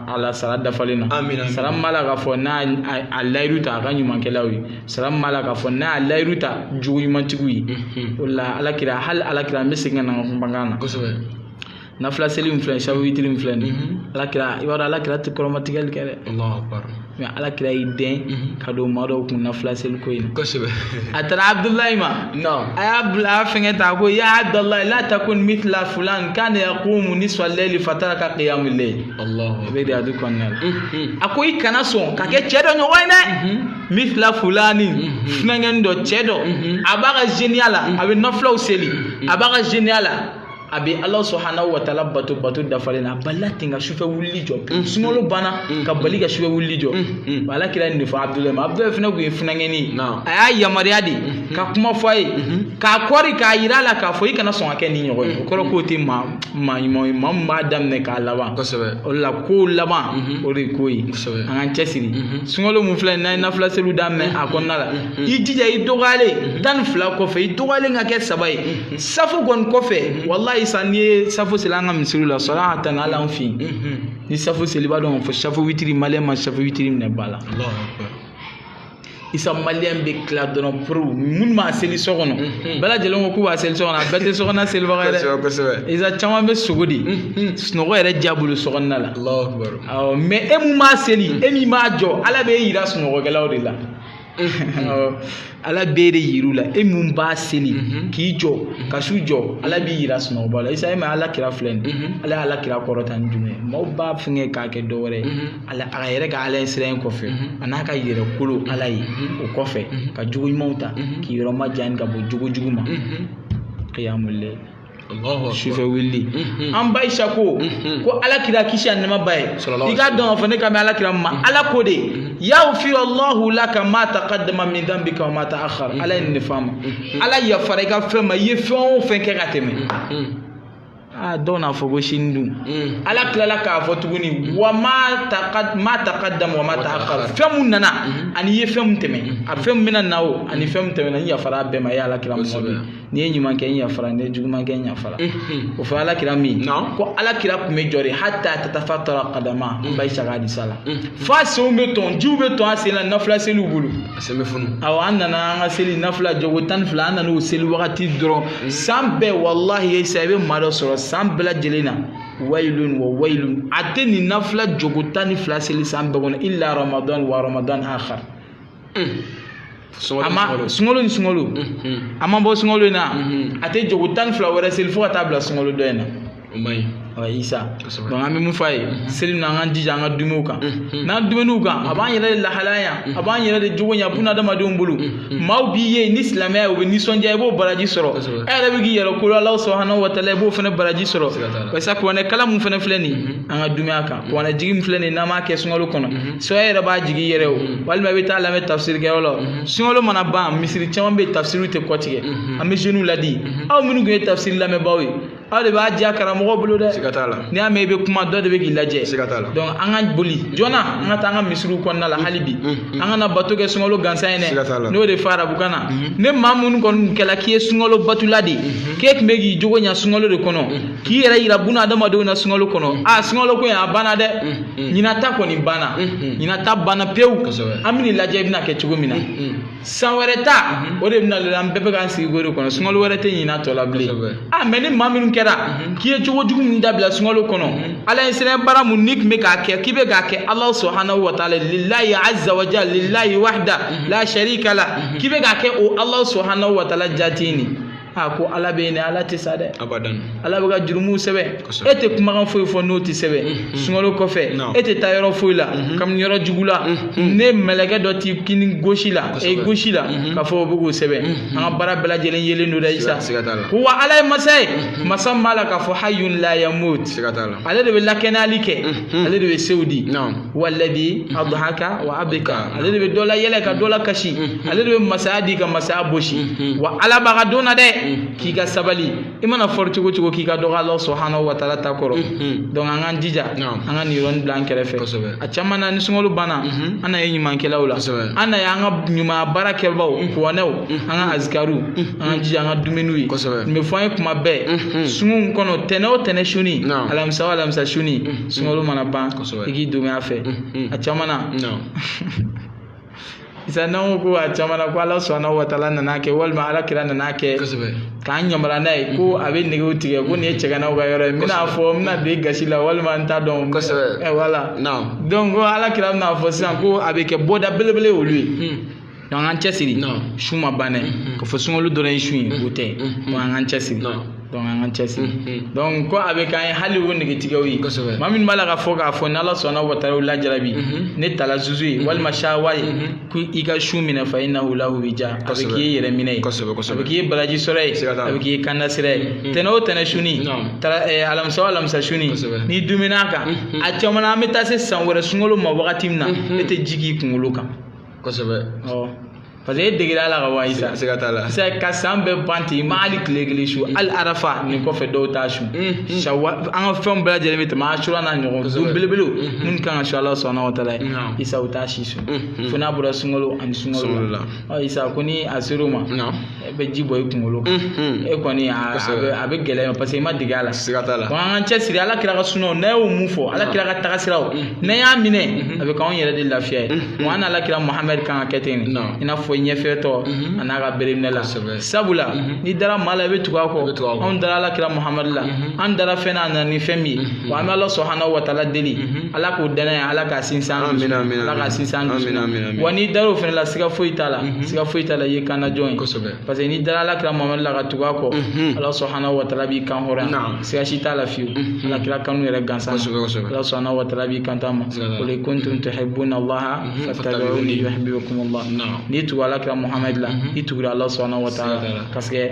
ala sara dafalen na amina sara min b'a la k'a fɔ n'a a layiru ta a ka ɲumankɛlaw ye sara min b'a la k'a fɔ n'a a layiru ta jogo ɲumantigiw ye mhm. o la alakira hali alakira an bɛ segin ka na an ka kumakan na kosɛbɛ nafila seli min filɛ safu witiri min filɛ nin ye mhm. alakira i b'a dɔn alakira tɛ kɔrɔmatigɛli kɛ dɛ mais ala kira y'i den mhm. ka don maa dɔw kun nafila seli ko in kosɛbɛ a taara abudulayi ma a y'a bila a fɛngɛ ta ko ya abudulayi la takun mithla fulan kana yaqumu nisfa al-layli fataraka qiyamul layl i bɛ riyadu kɔnɔna la mhm. a ko i kana sɔn ka kɛ cɛ dɔ ɲɔgɔn ye dɛ mhm. mithla fulani funankɛni dɔ cɛ dɔ a b'a ka zeniya la a bɛ nafilaw seli a b'a ka zeniya la a bɛ ala subhanahu wa ta'ala bato bato dafalen na a balila ten ka sufɛ wulili jɔ mm. sunkalo banna mm. ka bali ka sufɛ wulili jɔ mm. ala kira nin de fɔ abudulayi ma abudulayi fana tun ye funankɛni ye a y'a yamaruya de mm-hmm. ka kuma fɔ a ye mm-hmm. k'a kɔri k'a yira a la k'a fɔ i kana sɔn ka kɛ nin ɲɔgɔn ye o kɔrɔ k'o tɛ maa maa ɲuman ye maa min b'a daminɛ k'a laban o la kow laban mm-hmm. o de ye ko ye an k'an cɛsiri sunkalo min filɛ n'an ye nafila seliw daminɛ a kɔnɔna la i jija i dɔgɔyalen tan ni fila kɔfɛ i dɔgɔyalen ka kɛ saba ye safu kɔni kɔfɛ mhm. walayi isa n'i ye safu seli an ka misiriw la sɔrɔ an ka taa n'ala an fɛ yen mhm. ni safu seli b'a dɔn fɔ safu witiri maliyɛn ma safu witiri minɛ ba la isa maliyɛn bɛ tila dɔrɔn porow minnu b'a seli so kɔnɔ mhm. bɛɛ lajɛlen ko k'u b'a seli so kɔnɔ a bɛɛ tɛ so kɔnɔna selibaga ye dɛ isa caman bɛ sunɔgɔ de sunɔgɔ yɛrɛ diya bolo so kɔnɔna la mɛ e min b'a seli e min b'a jɔ ala bɛ e yira sunɔgɔkɛlaw de la ala b'e de yir'u la e min b'a seli mhm. k'i jɔ mhm. ka su jɔ ala b'i yira sunɔgɔbaa la isa e ma ala kira filɛ nin mhm. ala ye ala kira kɔrɔta ni jumɛn ye maaw b'a fɛngɛ k'a kɛ dɔ wɛrɛ ye ala a yɛrɛ ka ala ɲɛsiran in kɔfɛ a n'a ka yɛrɛ kolo ala ye o kɔfɛ ka jogo ɲumanw ta k'i yɔrɔ ma jan ka bɔ jogo jugu ma kiyamule sufɛ wulili mhm. an ba aisha ko mhm. ko ala kira kisi ani nɛɛma b'a ye i k'a dɔn k'a fɔ ne ka mɛ ala kira ma mhm. ala ko de yaghfiru allahu laka ma taqaddama min dhanbika wa ma ta'akhkhara ala ye nin de f'a ma ala yafara i ka fɛn ma i ye fɛn o fɛn kɛ ka tɛmɛ aa dɔw n'a fɔ ko sini dun ala tilala k'a fɔ tuguni wa ma taqaddama wa ma ta'akhkhara fɛn mun nana ani i ye fɛn mun tɛmɛ a fɛn mun bɛna na o ani fɛn mun tɛmɛna n yafara a bɛɛ ma i ye ala kira ma ko n'i ye ɲuman kɛ n yafara n'i ye juguman kɛ n yafara mhm. o fɔ ala kira min ko ala kira tun bɛ jɔ de hata tatafatara kadama mhm. ba aisha ka hadisa la mhm. f'a senw bɛ tɔn jiw bɛ tɔn a sen na nafila seliw bolo a sen bɛ funu awɔ an nana an ka seli nafila jɔko tan ni fila an nana o seli wagati dɔrɔn san bɛɛ walahi isa i bɛ maa dɔ sɔrɔ san bɛɛ lajɛlen na wayilun wa wayilun a tɛ nin nafila jɔko tan ni fila seli san bɛɛ kɔnɔ illa ramadan wa ramadan akhar a ma sunkalo ni sunkalo a ma bɔ sunkalo in na a tɛ jɔko tan ni fila wɛrɛ seli fo ka taa bila sunkalo dɔ in na o man ɲi wa isa donc an bɛ min f'aw ye seli na an k'an jija an ka duumɛ u kan n'an duumɛna u kan a b'an yɛrɛ de lahala ɲa a b'an yɛrɛ de jogo ɲa buna adamadenw bolo maaw b'i ye ni silamɛya ye u bɛ nisɔndiya i b'o baraji sɔrɔ e yɛrɛ bɛ k'i yɛrɛ kolo alahu subhanahu wa taala i b'o fana baraji sɔrɔ barisa kuranɛ kalan min fana filɛ nin ye an ka duumɛ a kan mhm. kuranɛ jigi min filɛ nin ye n'an b'a kɛ sunkalo kɔnɔ mhm. soit e yɛrɛ b'a jigi yɛrɛ o mhm. walima i bɛ taa lamɛn tafsiri kɛyɔrɔ la sunkalo mana ban misiri caman bɛ yen tafsiriw tɛ kɔtigɛ an bɛ zeniw ladi aw minnu tun ye tafsiri lamɛnbaaw ye aw de b'a diya karamɔgɔ bolo dɛ siga t'a la n'i y'a mɛn i bɛ kuma dɔ de bɛ k'i lajɛ siga t'a la donc an ka boli joona an ka taa an ka misiriw kɔnɔna la hali bi an kana bato kɛ sunkalo gansan ye dɛ siga t'a la n'o de fɔ arabukan na ni maa minnu kɔni kɛla k'i ye sunkalo batola de ye k'e tun bɛ k'i jogo ɲa sunkalo de kɔnɔ k'i yɛrɛ yira buna adamadenw na sunkalo kɔnɔ mm. a sunkalo ko in a banna dɛ mm, mm. ɲinan ta kɔni banna ɲinan ta banna pewu an bɛna lajɛ i bɛna kɛ cogo min na san wɛrɛ ta mm-hmm. o de bɛna lajɛ an bɛɛ bɛ k'an sigi k'o de kɔnɔ sunkalo wɛrɛ tɛ ɲinan tɔ la bilen a mɛ ni maa minnu kɛra mm-hmm. k'i ye cogo jugu min dabila sunkalo kɔnɔ mm-hmm. ala ɲɛsiran baara min n'i tun bɛ k'a kɛ k'i bɛ k'a kɛ alahu subhanahu wa taala lilayi azza wa jalla lilayi wahda la sharika la k'i bɛ k'a kɛ o alahu subhanahu wa taala jati nin a ko ala bɛ yen dɛ ala tɛ sa dɛ abadan ala bɛ ka jurumu sɛbɛn e tɛ kumakan foyi fɔ n'o tɛ sɛbɛn mm-hmm. sunkalo kɔfɛ e tɛ taa yɔrɔ foyi la mm-hmm. ka bin yɔrɔ jugu la mm-hmm. ni mɛlɛkɛ dɔ t'i kini gosi la e gosi la k'a fɔ o bɛ k'o sɛbɛn an ka baara bɛɛ lajɛlen yelen don dɛ isa ko wa ala ye masa ye masa min b'a la k'a fɔ hayun la yamut ale de bɛ lakɛnɛyali kɛ ale de bɛ sew di walladhi adhaka wa abka ale de bɛ dɔ layɛlɛ ka dɔ lakasi ale de bɛ masaya di ka masaya bosi mhm. wa ala b'a ka don na dɛ mhm. k'i ka sabali i mana fɔri cogo o cogo k'i ka dɔgɔ ala subhanahu wa taala ta kɔrɔ mhm. donc an k'an jija an ka nin yɔrɔnin bila an kɛrɛfɛ a caman na ni sunkalo banna an na ye ɲumankɛlaw la an na ye an ka ɲumanya baara kɛbaaw kuranɛw an ka azikariw an k'an jija an ka dumuniw ye nin bɛ fɔ an ye kuma bɛɛ sungun kɔnɔ tɛnɛ o tɛnɛ suni alamisa o alamisa suni sunkalo mana ban i k'i duumɛ a fɛ a caman na isa n'an ko a caman na ko ala subhana wa taala nana kɛ walima ala kira nana kɛ k'an yamaruya n'a ye ko a bɛ negew tigɛ ko nin ye cɛganaw ka yɔrɔ ye n bɛna fɔ n bɛna don i gasi la walima n t'a dɔn eh, voilà donc ko ala kira bɛna fɔ sisan ko a bɛ kɛ bɔda belebele olu ye hmm. donc an cɛsiri su ma ban dɛ hmm, hmm. k'a fɔ sunkalo dɔrɔn ye su ye o tɛ donc an k'an cɛsiri donc an k'an cɛsiri mm-hmm. donc ko a bɛ k'an ye hali o negetigɛw ye kosɛbɛ maa min b'a la k'a fɔ k'a fɔ n'ala subhana wa taala o lajarabi mm-hmm. ni talazuzu ye mm-hmm. walima shahwa ye ko i ka su minɛ fa innahu lahu wija a bɛ k'i ye yɛrɛ minɛ ye kosɛbɛ kosɛbɛ a bɛ k'i ye baraji sɔrɔ ye a bɛ k'i ye kanda sira ye tɛnɛ o tɛnɛ suni eh, alamisa o alamisa suni n'i duumɛna a kan a caman na an bɛ taa se san wɛrɛ sunkalo ma wagati min na e tɛ ji k'i kunkolo kan kosɛbɛ awɔ parce que e degera a la ka wa isa siga t'a la sisan ka san bɛɛ ban ten i ma hali tile kelen su hali arafa nin kɔfɛ dɔw t'a su sawa an ka fɛnw bɛɛ lajɛlen bɛ tɛmɛ asura n'a ɲɔgɔn don belebelew minnu kan ka su ala subhana wa taala ye isa u t'a si su fo n'a bɔra sunkalo ani sunkalo la isa ko ni a ser'o ma e bɛ ji bɔn i kunkolo kan e kɔni a bɛ gɛlɛya parce que i ma dege a la siga t'a la bon an k'an cɛsiri ala kira ka sunnaw n'a y'o mun fɔ ala kira ka tagasiraw n'an y'a minɛ a bɛ k'anw yɛrɛ de lafiya ye bon an n'ala kira muhamɛd kan ka kɛ ten de i n'a fɔ ɲɛfɛtɔ a n'a ka bereminɛla sabula n'i dara maa la i bɛ tugu a kɔ anw dara ala kira muhamɛd la an dara fɛn na a nana ni fɛn min ye wa an bɛ ala subhanahu wa taala deli ala k'o danaya ala k'a sinsin an dusu ala k'a sinsin an dusu wa n'i dar'o fana la siga foyi t'a la mhm. siga foyi t'a la i ye kanajɔn ye parce que n'i dara ala kira muhamadu la ka tugu a kɔ mhm. ala subhanahu wa taala b'i kan hɔrɔnya siga si t'a la fiyewu mhm. ala kira kanu yɛrɛ gansan ala subhanahu wa taala b'i kanda a ma qul in kuntum tuhibbuna allaha fattabi'uni yuhibbukum allah n'i tugu ala kira muhamadu la i tugura ala subhanahu wa taala parce que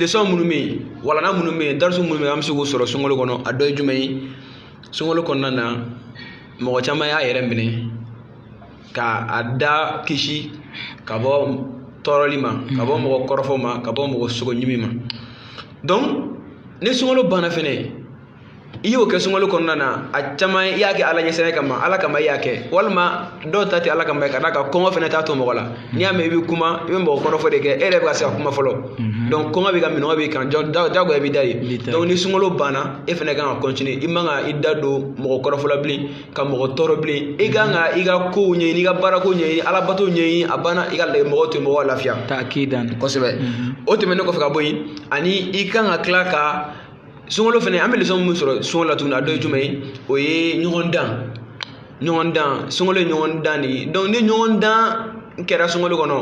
lesɔn minnu bɛ yen walana minnu bɛ yen darisu minnu bɛ yen an bɛ se k'o sɔrɔ sunkalo kɔnɔ a dɔ ye jumɛn ye sunkalo kɔnɔna na mɔgɔ caman y'a yɛrɛ minɛ ka a da kisi ka bɔ tɔɔrɔli ma ka bɔ mɔgɔ kɔrɔfɔ ma ka bɔ mɔgɔ sogo ɲimi ma donc ni sunkalo banna fɛnɛ i y'o kɛ sunkalo kɔnɔna na a caman i y'a kɛ ala ɲɛsiran kama ala kama i y'a kɛ walima dɔw ta tɛ ala kama ka d'a kan kɔngɔ fɛnɛ t'a to mɔgɔ la n'i y'a mɛn i bɛ kuma i bɛ mɔgɔ kɔrɔfɔ de kɛ e yɛrɛ bɛ ka se ka kuma fɔlɔ mhm. donc kɔngɔ b'i kan minnɔgɔ b'i kan jagoya b'i da ye donc ni sunkalo banna e fɛnɛ kan ka continuer i man ka i da don mɔgɔ kɔrɔfɔ la bilen ka mɔgɔ tɔɔrɔ bilen i kan ka i ka kow ɲɛɲini i ka baarako ɲɛɲini ala bato ɲɛɲini a banna i ka mɔgɔw to mɔgɔw lafiya kosɛbɛ mhm. o tɛmɛnen kɔfɛ ka bɔ yen ani i kan ka tila ka sunkalo fɛnɛ an bɛ lesɔn min sɔrɔ sunkalo la tuguni a dɔ ye jumɛn ye o ye ɲɔgɔn dan ɲɔgɔn dan sunkalo ye ɲɔgɔn dan de ye ni ɲɔgɔn dan kɛra sunkalo kɔnɔ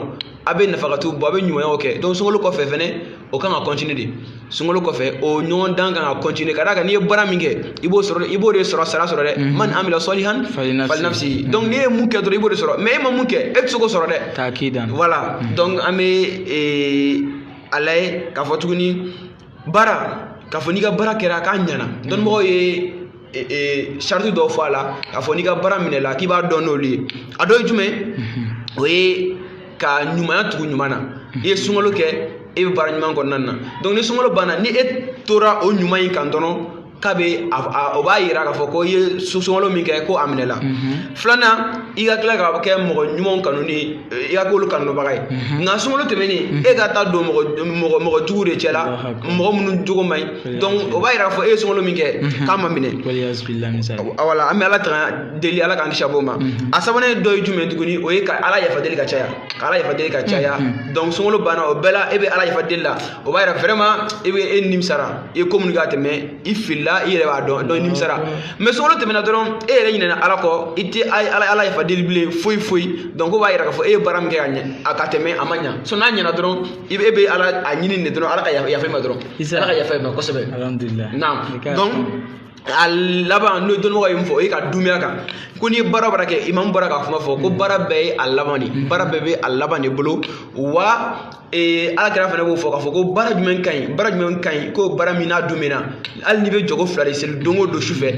a bɛ nafakatu bɔ a bɛ ɲumanya kɛ sunkalo kɔfɛ fɛnɛ o kan ka continuer de sunkalo kɔfɛ o ɲɔgɔn dan kan ka continuer ka d'a kan n'i ye baara min kɛ i b'o sɔrɔ i b'o de sɔrɔ sara sɔrɔ dɛ man amila salihan falinafsihi donc n'i ye mun kɛ dɔrɔn i b'o de sɔrɔ mais e ma mun kɛ e tɛ se k'o sɔrɔ dɛ k'a k'i dan voilà donc an bɛ a lajɛ k'a fɔ tuguni baara k'a fɔ n'i ka baara kɛra k'a ɲɛna dɔnnibagaw ye sarati dɔw fɔ a la k'a fɔ n'i ka baara minɛla k'i b'a dɔn n'olu ye a dɔ ye jumɛn o ye ka ɲumanya tugu ɲuman na i ye sunkalo kɛ e bɛ baara ɲuman kɔnɔna na donc ni sunkalo banna ni e tora o ɲuman in kan dɔrɔn k'a bɛ o b'a yira k'a fɔ ko i ye sunkalo min kɛ ko a minɛla mhm. filanan i ka tila ka kɛ mɔgɔ ɲumanw kanu ni i ka k'olu kanubaga ye mhm. nka sunkalo tɛmɛnen mhm. e ka taa don mɔgɔ jugu de cɛla mɔgɔ minnu jogo man ɲi donc o b'a yira k'a fɔ e ye sunkalo min kɛ k'a ma minɛ wala an bɛ ala tanga deli ala k'an kisi ka b'o ma a sabanan ye dɔ ye jumɛn tuguni o ye ka ala yafa deli ka caya ka ala yafa deli ka caya donc sunkalo banna o bɛɛ la e bɛ ala yafa deli la o b'a yira vraiment e bɛ e nimisara i ye ko minnu kɛ ka tɛmɛ i filila i yɛrɛ b'a dɔn donc i nimisara mais sunkalo tɛmɛna dɔrɔn e yɛrɛ ɲinɛna ala kɔ i tɛ ala yafa deli bilen foyi foyi donc o b'a yira k'a fɔ e ye baara min kɛ ka ɲɛ a ka tɛmɛ a ma ɲa so n'a ɲɛna dɔrɔn i bɛ e bɛ ala a ɲini de dɔrɔn ala ka yafa i ma dɔrɔn ala ka yafa i ma kosɛbɛ naam donc a laban n'o dɔnnibagaw ye min fɔ o ye ka duumɛ a kan ko n'i ye baara baara kɛ imamu bɔra ka kuma fɔ ko baara bɛɛ ye a laban de baara bɛɛ bɛ a laban de bolo wa ee ala kira fana b'o fɔ k'a fɔ ko baara jumɛn ka ɲi baara jumɛn ka ɲi ko baara min n'a duumɛna hali n'i bɛ jɔkɔ fila de seli don o don su fɛ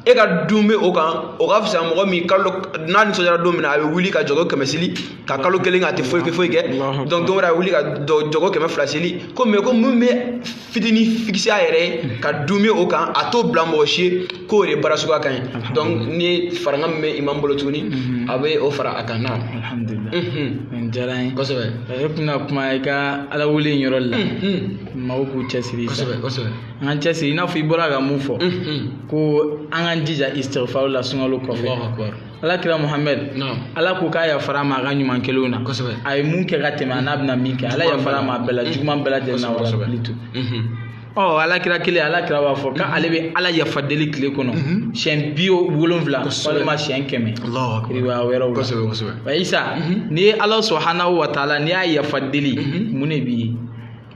e ka duumɛ o kan o ka fisa mɔgɔ min kalo n'a nisɔndiyara don min na a bɛ wuli ka jɔkɔ kɛmɛ seli ka kalo kelen kɛ a tɛ foyi kɛ foyi kɛ donc don wɛrɛ a bɛ wuli ka jɔkɔ kɛmɛ fila seli ko mais ko mun bɛ fitini fikisi a yɛrɛ ye ka dume o kan a t'o bila mɔgɔ si ye k'o de baara suguya ka ɲi donc ni farankan min bɛ imam bolo tuguni mhm. a bɛ o fara a kan na alhamdulilah mhm. nin diyara n ye kosɛbɛ e tɛna kuma i ka ala wele in yɔrɔ la mhm. maaw k'u cɛsiri kosɛbɛ kosɛbɛ an k'an cɛsiri i n'a fɔ i bɔra ka mun fɔ ko an k'an jija istighfar la sunkalo kɔfɛ ala kira muhamɛd ala ko k'a yafara a ma a ka ɲuman kɛlenw na a ye mun kɛ ka tɛmɛ a n'a bɛna min kɛ ala yafara a ma a bɛɛ la juguman bɛɛ lajɛlen na wala bili to ɔ ala kira kelen ala kira b'a fɔ k'ale bɛ ala yafa deli tile kɔnɔ siɲɛ bi wolonwula walima siɲɛ kɛmɛ riwaya wɛrɛw la wa isa n'i ye ala subhanahu wa taala n'i y'a yafa deli mun de b'i ye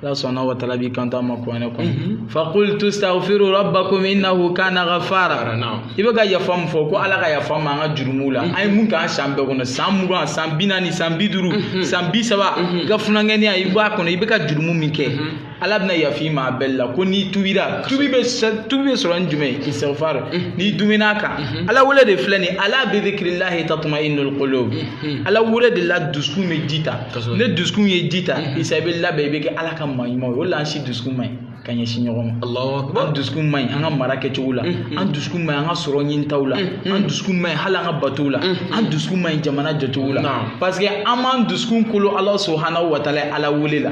ala subhanahu wa taala b'i kanto an ma kuranɛ kɔnɔ mhm. fakultu staghfiru rabbakum innahu kana ghafara i bɛ ka yafa min fɔ ko ala ka yafa an ma an ka jurumuw la mhm. an ye mun k'an san bɛɛ kɔnɔ san mugan san bi naani san bi duuru mhm. san bi saba i ka funankɛninya i b'a kɔnɔ i bɛ ka jurumu min kɛ ala bɛna yafa i ma a bɛɛ la ko n'i tubira tubi bɛ tubi bɛ sɔrɔ ni jumɛn ye istighfar n'i dumina a kan ala wele de filɛ nin ye ala bi dhikrillahi tatma'innul qulub ala wele de la dusukun bɛ ji ta ne dusukun ye ji ta mhm. isa i bɛ labɛn i bɛ kɛ ala ka maa ɲuman ye o la an si dusukun man ɲi ka ɲɛsin ɲɔgɔn ma an dusukun man ɲi an ka mara kɛcogo la mhm. an dusukun man ɲi an ka sɔrɔ ɲinitaw la mhm. an dusukun man ɲi hali an ka batow la an dusukun man ɲi jamana jɔcogo la parce que an m'an dusukun kolo ala subhanahu wa taala ala wele la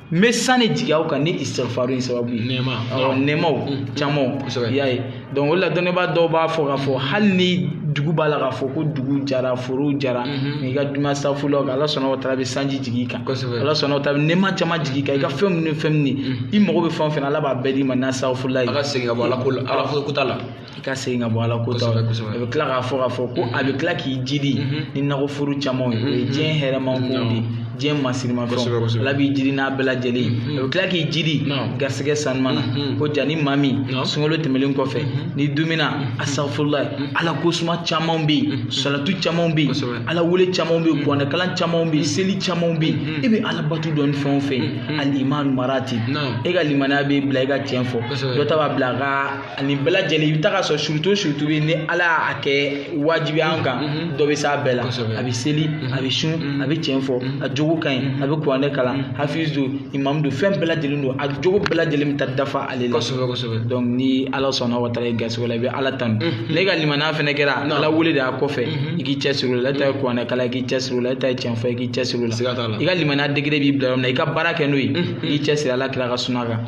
n bɛ san de jigin aw kan ni isitifaru in sababu ye nɛɛma awɔ nɛɛmaw mm. camanw kosɛbɛ i y'a ye donc o de la dɔnnibaa dɔw b'a fɔ k'a fɔ hali ni dugu b'a la k'a fɔ ko dugu jara forow jara mm-hmm. n'i ka dumi asafurula kan ala subhanahu wa taala bɛ sanji jigin i kan kosɛbɛ ala subhanahu wa taala bɛ nɛɛma caman jigin i kan i ka mm. fɛn minnu ni fɛn minnu mm. i mago bɛ fɛn o fɛn na ala b'a bɛɛ d'i ma n'asafurula ye a ka segin ka bɔ ala ko la ala kɔnta la i ka segin ka bɔ ala kɔnta la a bɛ tila k'a fɔ k'a fɔ ko a bɛ tila k'i jidi ni nakɔforo camanw ye o ye diɲɛ hɛrɛman kow de ye diɲɛ masirimafɛnw ala b'i jidi n'a bɛɛ lajɛlen ye a bɛ tila k'i jidi garisɛgɛ sanuman na ko ja ni maa min sunkalo tɛmɛlen kɔfɛ n'i dumina asafurula ala ko suma camanw bɛ yen salatu camanw bɛ yen ala wele camanw bɛ yen kuranɛkalan camanw bɛ yen seli camanw bɛ yen e bɛ ala bato dɔn ni fɛn o fɛn ye al imanu maratib e ka limaniya b'i bila i ka tiɲɛ fɔ dɔ ta b'a bila a ka ani bɛɛ lajɛlen i bɛ taga a sɔrɔ surtout surtout bɛ ni ala y'a kɛ wajibi an kan dɔ bɛ s'a bɛɛ la a bɛ seli a bɛ sun a bɛ tiɲɛ fɔ a jogo ka ɲi a bɛ kuranɛ kalan hafiz don imamu don fɛn bɛɛ lajɛlen don a jogo bɛɛ lajɛlen bɛ taa dafa ale la kosɛbɛ kosɛbɛ donc ni ala subhanahu wa taala y'i garisigɛ a la i bɛ ala tanu n'e ka limaniya fana kɛra ala wele de y'a kɔfɛ i k'i cɛ siri o la e ta ye kuranɛ kalan i k'i cɛ siri o la e ta ye tiɲɛ fɔ i k'i cɛ siri o la i ka limaniya degré b'i bila yɔrɔ min na i ka baara kɛ n'o ye i k'i cɛ siri ala kira ka suna kan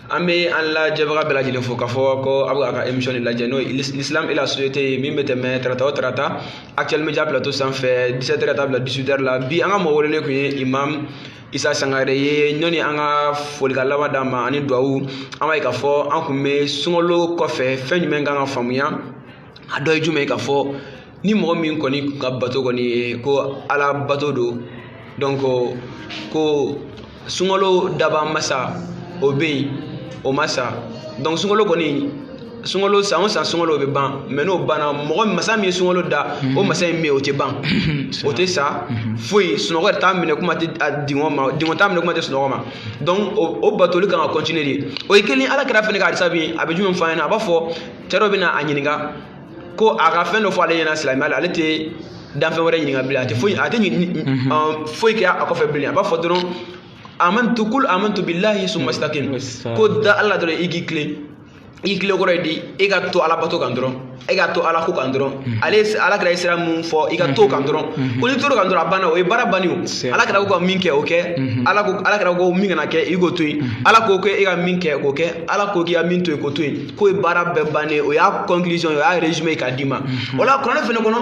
an bɛ an lajɛbaga bɛɛ lajɛlen fo k'a fɔ ko aw bɛ a ka émission de lajɛ n'o ye l'islam et la société ye min bɛ tɛmɛ tarata o tarata actuel média plateau sanfɛ 17 heures ka taa bila 18 heures la bi an ka mɔgɔ welelen tun ye imam isa sangare ye ɲɔni an ka folikan laban d'a ma ani duwawu an b'a ye k'a fɔ an tun bɛ sunkalo kɔfɛ fɛn jumɛn kan ka faamuya a dɔ ye jumɛn ye k'a fɔ ni mɔgɔ min kɔni ka bato kɔni ye ko ala bato don donc ko sunkalo dabaa masa o bɛ yen o ma sa donc sunkalo kɔni sunkalo san o san sunkalo bɛ ban mais n'o banna mɔgɔ masa min ye sunkalo da o mhm. masa in bɛ yen o tɛ ban mhm. o tɛ sa mhm. foyi sunɔgɔ yɛrɛ t'a minɛ kuma tɛ a dingɔ ma dingɔ t'a minɛ kuma tɛ sunɔgɔ ma donc o batoli kan ka continuer de o ye kelen ala kira fɛnɛ ka hadisa bi a bɛ jumɛn fɔ an ɲɛna a b'a fɔ cɛ dɔ bɛ na a ɲininka ko a ka fɛn dɔ fɔ ale ɲɛna silamɛya la ale tɛ danfɛn wɛrɛ ɲininka bilen a tɛ foyi a tɛ foyi kɛ a kɔfɛ bilen a b'a fɔ dɔrɔn amantu qul amantu billahi summa istaqim ko da ala la dɔrɔn i k'i tilen i tilen kɔrɔ ye di e ka to ala bato kan dɔrɔn e ka to ala ko kan dɔrɔn mm-hmm. ale ala kira ye sira min fɔ i ka t'o kan mm-hmm. dɔrɔn mm-hmm. ko n'i tor'o kan dɔrɔn a banna o ye baara bannen o ala kira ko ka min kɛ o kɛ ala ko ala kira ko min kana kɛ i k'o to yen ala ko k'e ka min kɛ k'o kɛ ala ko k'i ka min to yen k'o to yen k'o ye baara bɛɛ bannen ye o y'a conclusion o y'a résumé k'a d'i ma mhm. o la kuranɛ fɛnɛ kɔnɔ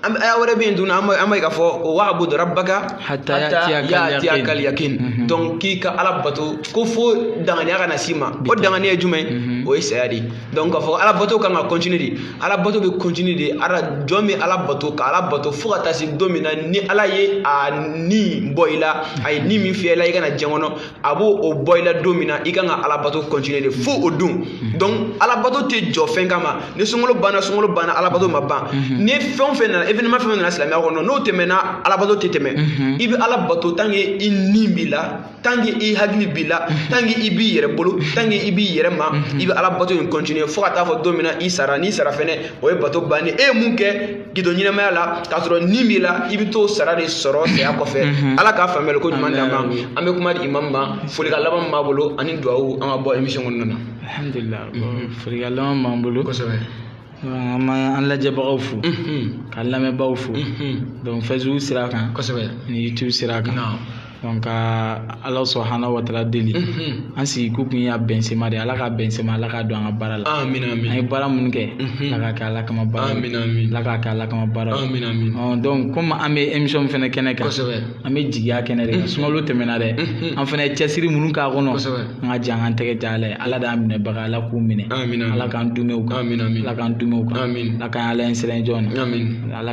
aya wɛrɛ bɛ yen tuguni an b'a ye k'a fɔ ko wa abudu rabbaka hatta ya'tiyaka al-yaqin mhm. donc k'i ka ala bato ko fo danganiya ka na s'i ma o danganiya ye jumɛn mhm. o ye saya de ye donc k'a fɔ ala bato kan ka continuer de ala bato bɛ continuer de ala jɔn bɛ ala bato ka ala bato fo ka taa se don min na ni ala ye a ni bɔ i la a ye ni min fiyɛ i la i ka na diɲɛ kɔnɔ a b'o bɔ i la don min na i kan ka alabato continuer de fo o don mhm. donc alabato tɛ jɔ fɛn kama ni sunkalo banna sunkalo banna alabato ma ban mhm. ni fɛn o fɛn nana événement fɛn fɛn nana silamɛya kɔnɔ n'o tɛmɛna alabato tɛ tɛmɛ mhm. i bɛ alabato tant que i ni b'i la tant que i hakili b'i la tant que i b'i yɛrɛ bolo tant que i b'i yɛrɛ ma i bɛ alabato in continuer fo ka taa fo don min na i sara n'i sara fɛnɛ o ye bato bannen e ye mun kɛ k'i to ɲɛnamaya la k'a sɔrɔ ni b'i la i bɛ t'o sara de sɔrɔ saya kɔfɛ ala k'a faamuyali ko ɲuman d'an ma an bɛ kuma di imam ma folikan laban min b'a bolo ani duwawu an ka bɔ émission kɔnɔna na alhamdulilah folikan laban b'an bolo kosɛbɛ an b'an lajɛbagaw fo k'an lamɛnbaaw fo donc facebook sira kan kosɛbɛ ni youtube sira kan donc ala subhanahu wa ta'ala deli mhm. an sigi ko kun y'a bɛnsema de ala ka bɛnsema ala ka don an ka baara la an ye baara minnu kɛ mhm. ala ka kɛ ala kama baara ala ka kɛ ala kama baara donc comme an bɛ émission fɛnɛ kɛnɛ kan an bɛ jigiya kɛnɛ de kan mhm. sunkalo tɛmɛna dɛ an fɛnɛ ye cɛsiri minnu k'a kɔnɔ an ka jan an tɛgɛ ja ala ye ala d'an minɛbaga ala k'u minɛ ala k'an dumɛw kan ala k'an dumɛw kan ala k'an ala ɲɛsiran jɔn na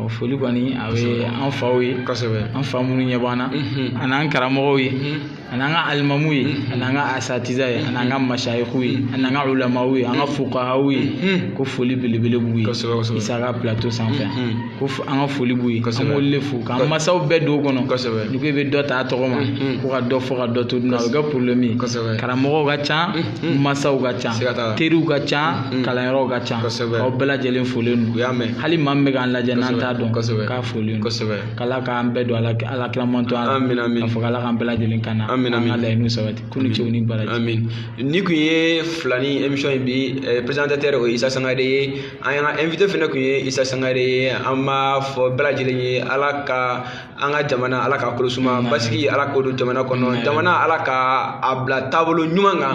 ɔ foli kɔni a bɛ an faw ye kosɛbɛ an fa minnu ɲɛ b'an na an'an karamɔgɔw ye an'an ka alimamuw ye an'an ka asatiza ye an'an ka masayiku ye an'an ka ulamaw ye an ka fukahaw ye ko foli belebele b'u ye kosɛbɛ kosɛbɛ Isa ka plateau sanfɛ ko an ka foli b'u ye kosɛbɛ an b'olu de fo k'an masaw bɛɛ don o kɔnɔ kosɛbɛ n'i ko i bɛ dɔ ta a tɔgɔ ma ko ka dɔ fɔ ka dɔ to dun a bɛ kɛ problème ye kosɛbɛ karamɔgɔw ka ca masaw ka ca teriw ka ca mm. kalanyɔrɔw ka ca kosɛbɛ aw bɛɛ lajɛlen folen don u y'a mɛn hali maa min bɛ k'an lajɛ n'an t'a dɔn kosɛbɛ k'a folen don kosɛbɛ k'ala k'an bɛɛ don ala kilaman to an amin amin k'a fɔ k'ala k'an bɛɛ lajɛlen kana amin amin an ka laɲiniw sabati k'aw ni ce aw ni baraji amin nin kun ye filani émission in bi eh, présentateur o ye Isa Sangare ye an'an ka invité fana kun ye Isa Sangare ye an b'a fɔ bɛɛ lajɛlen ye ala ka an ka jamana ala ka kolo suma basigi ala k'o don jamana kɔnɔ jamana ala ka a bila taabolo ɲuman kan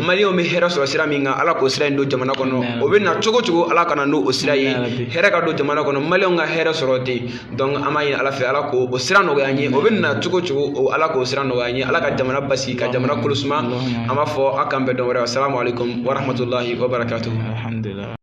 maliyɛnw bɛ hɛrɛ sɔrɔ sira min kan ala k'o sira in don jamana kɔnɔ o bɛ na cogo o cogo ala ka na n'o sira ye hɛrɛ ka don jamana kɔnɔ maliyɛnw ka hɛrɛ sɔrɔ ten donc an b'a ɲini ala fɛ ala k'o sira nɔgɔya an ye o bɛ na cogo o cogo ala k'o sira nɔgɔya an ye ala ka jamana basigi ka jamana kolo suma an b'a fɔ aw k'an bɛn don wɛrɛ assalamu alaikum warahmatullahi wabarakatuh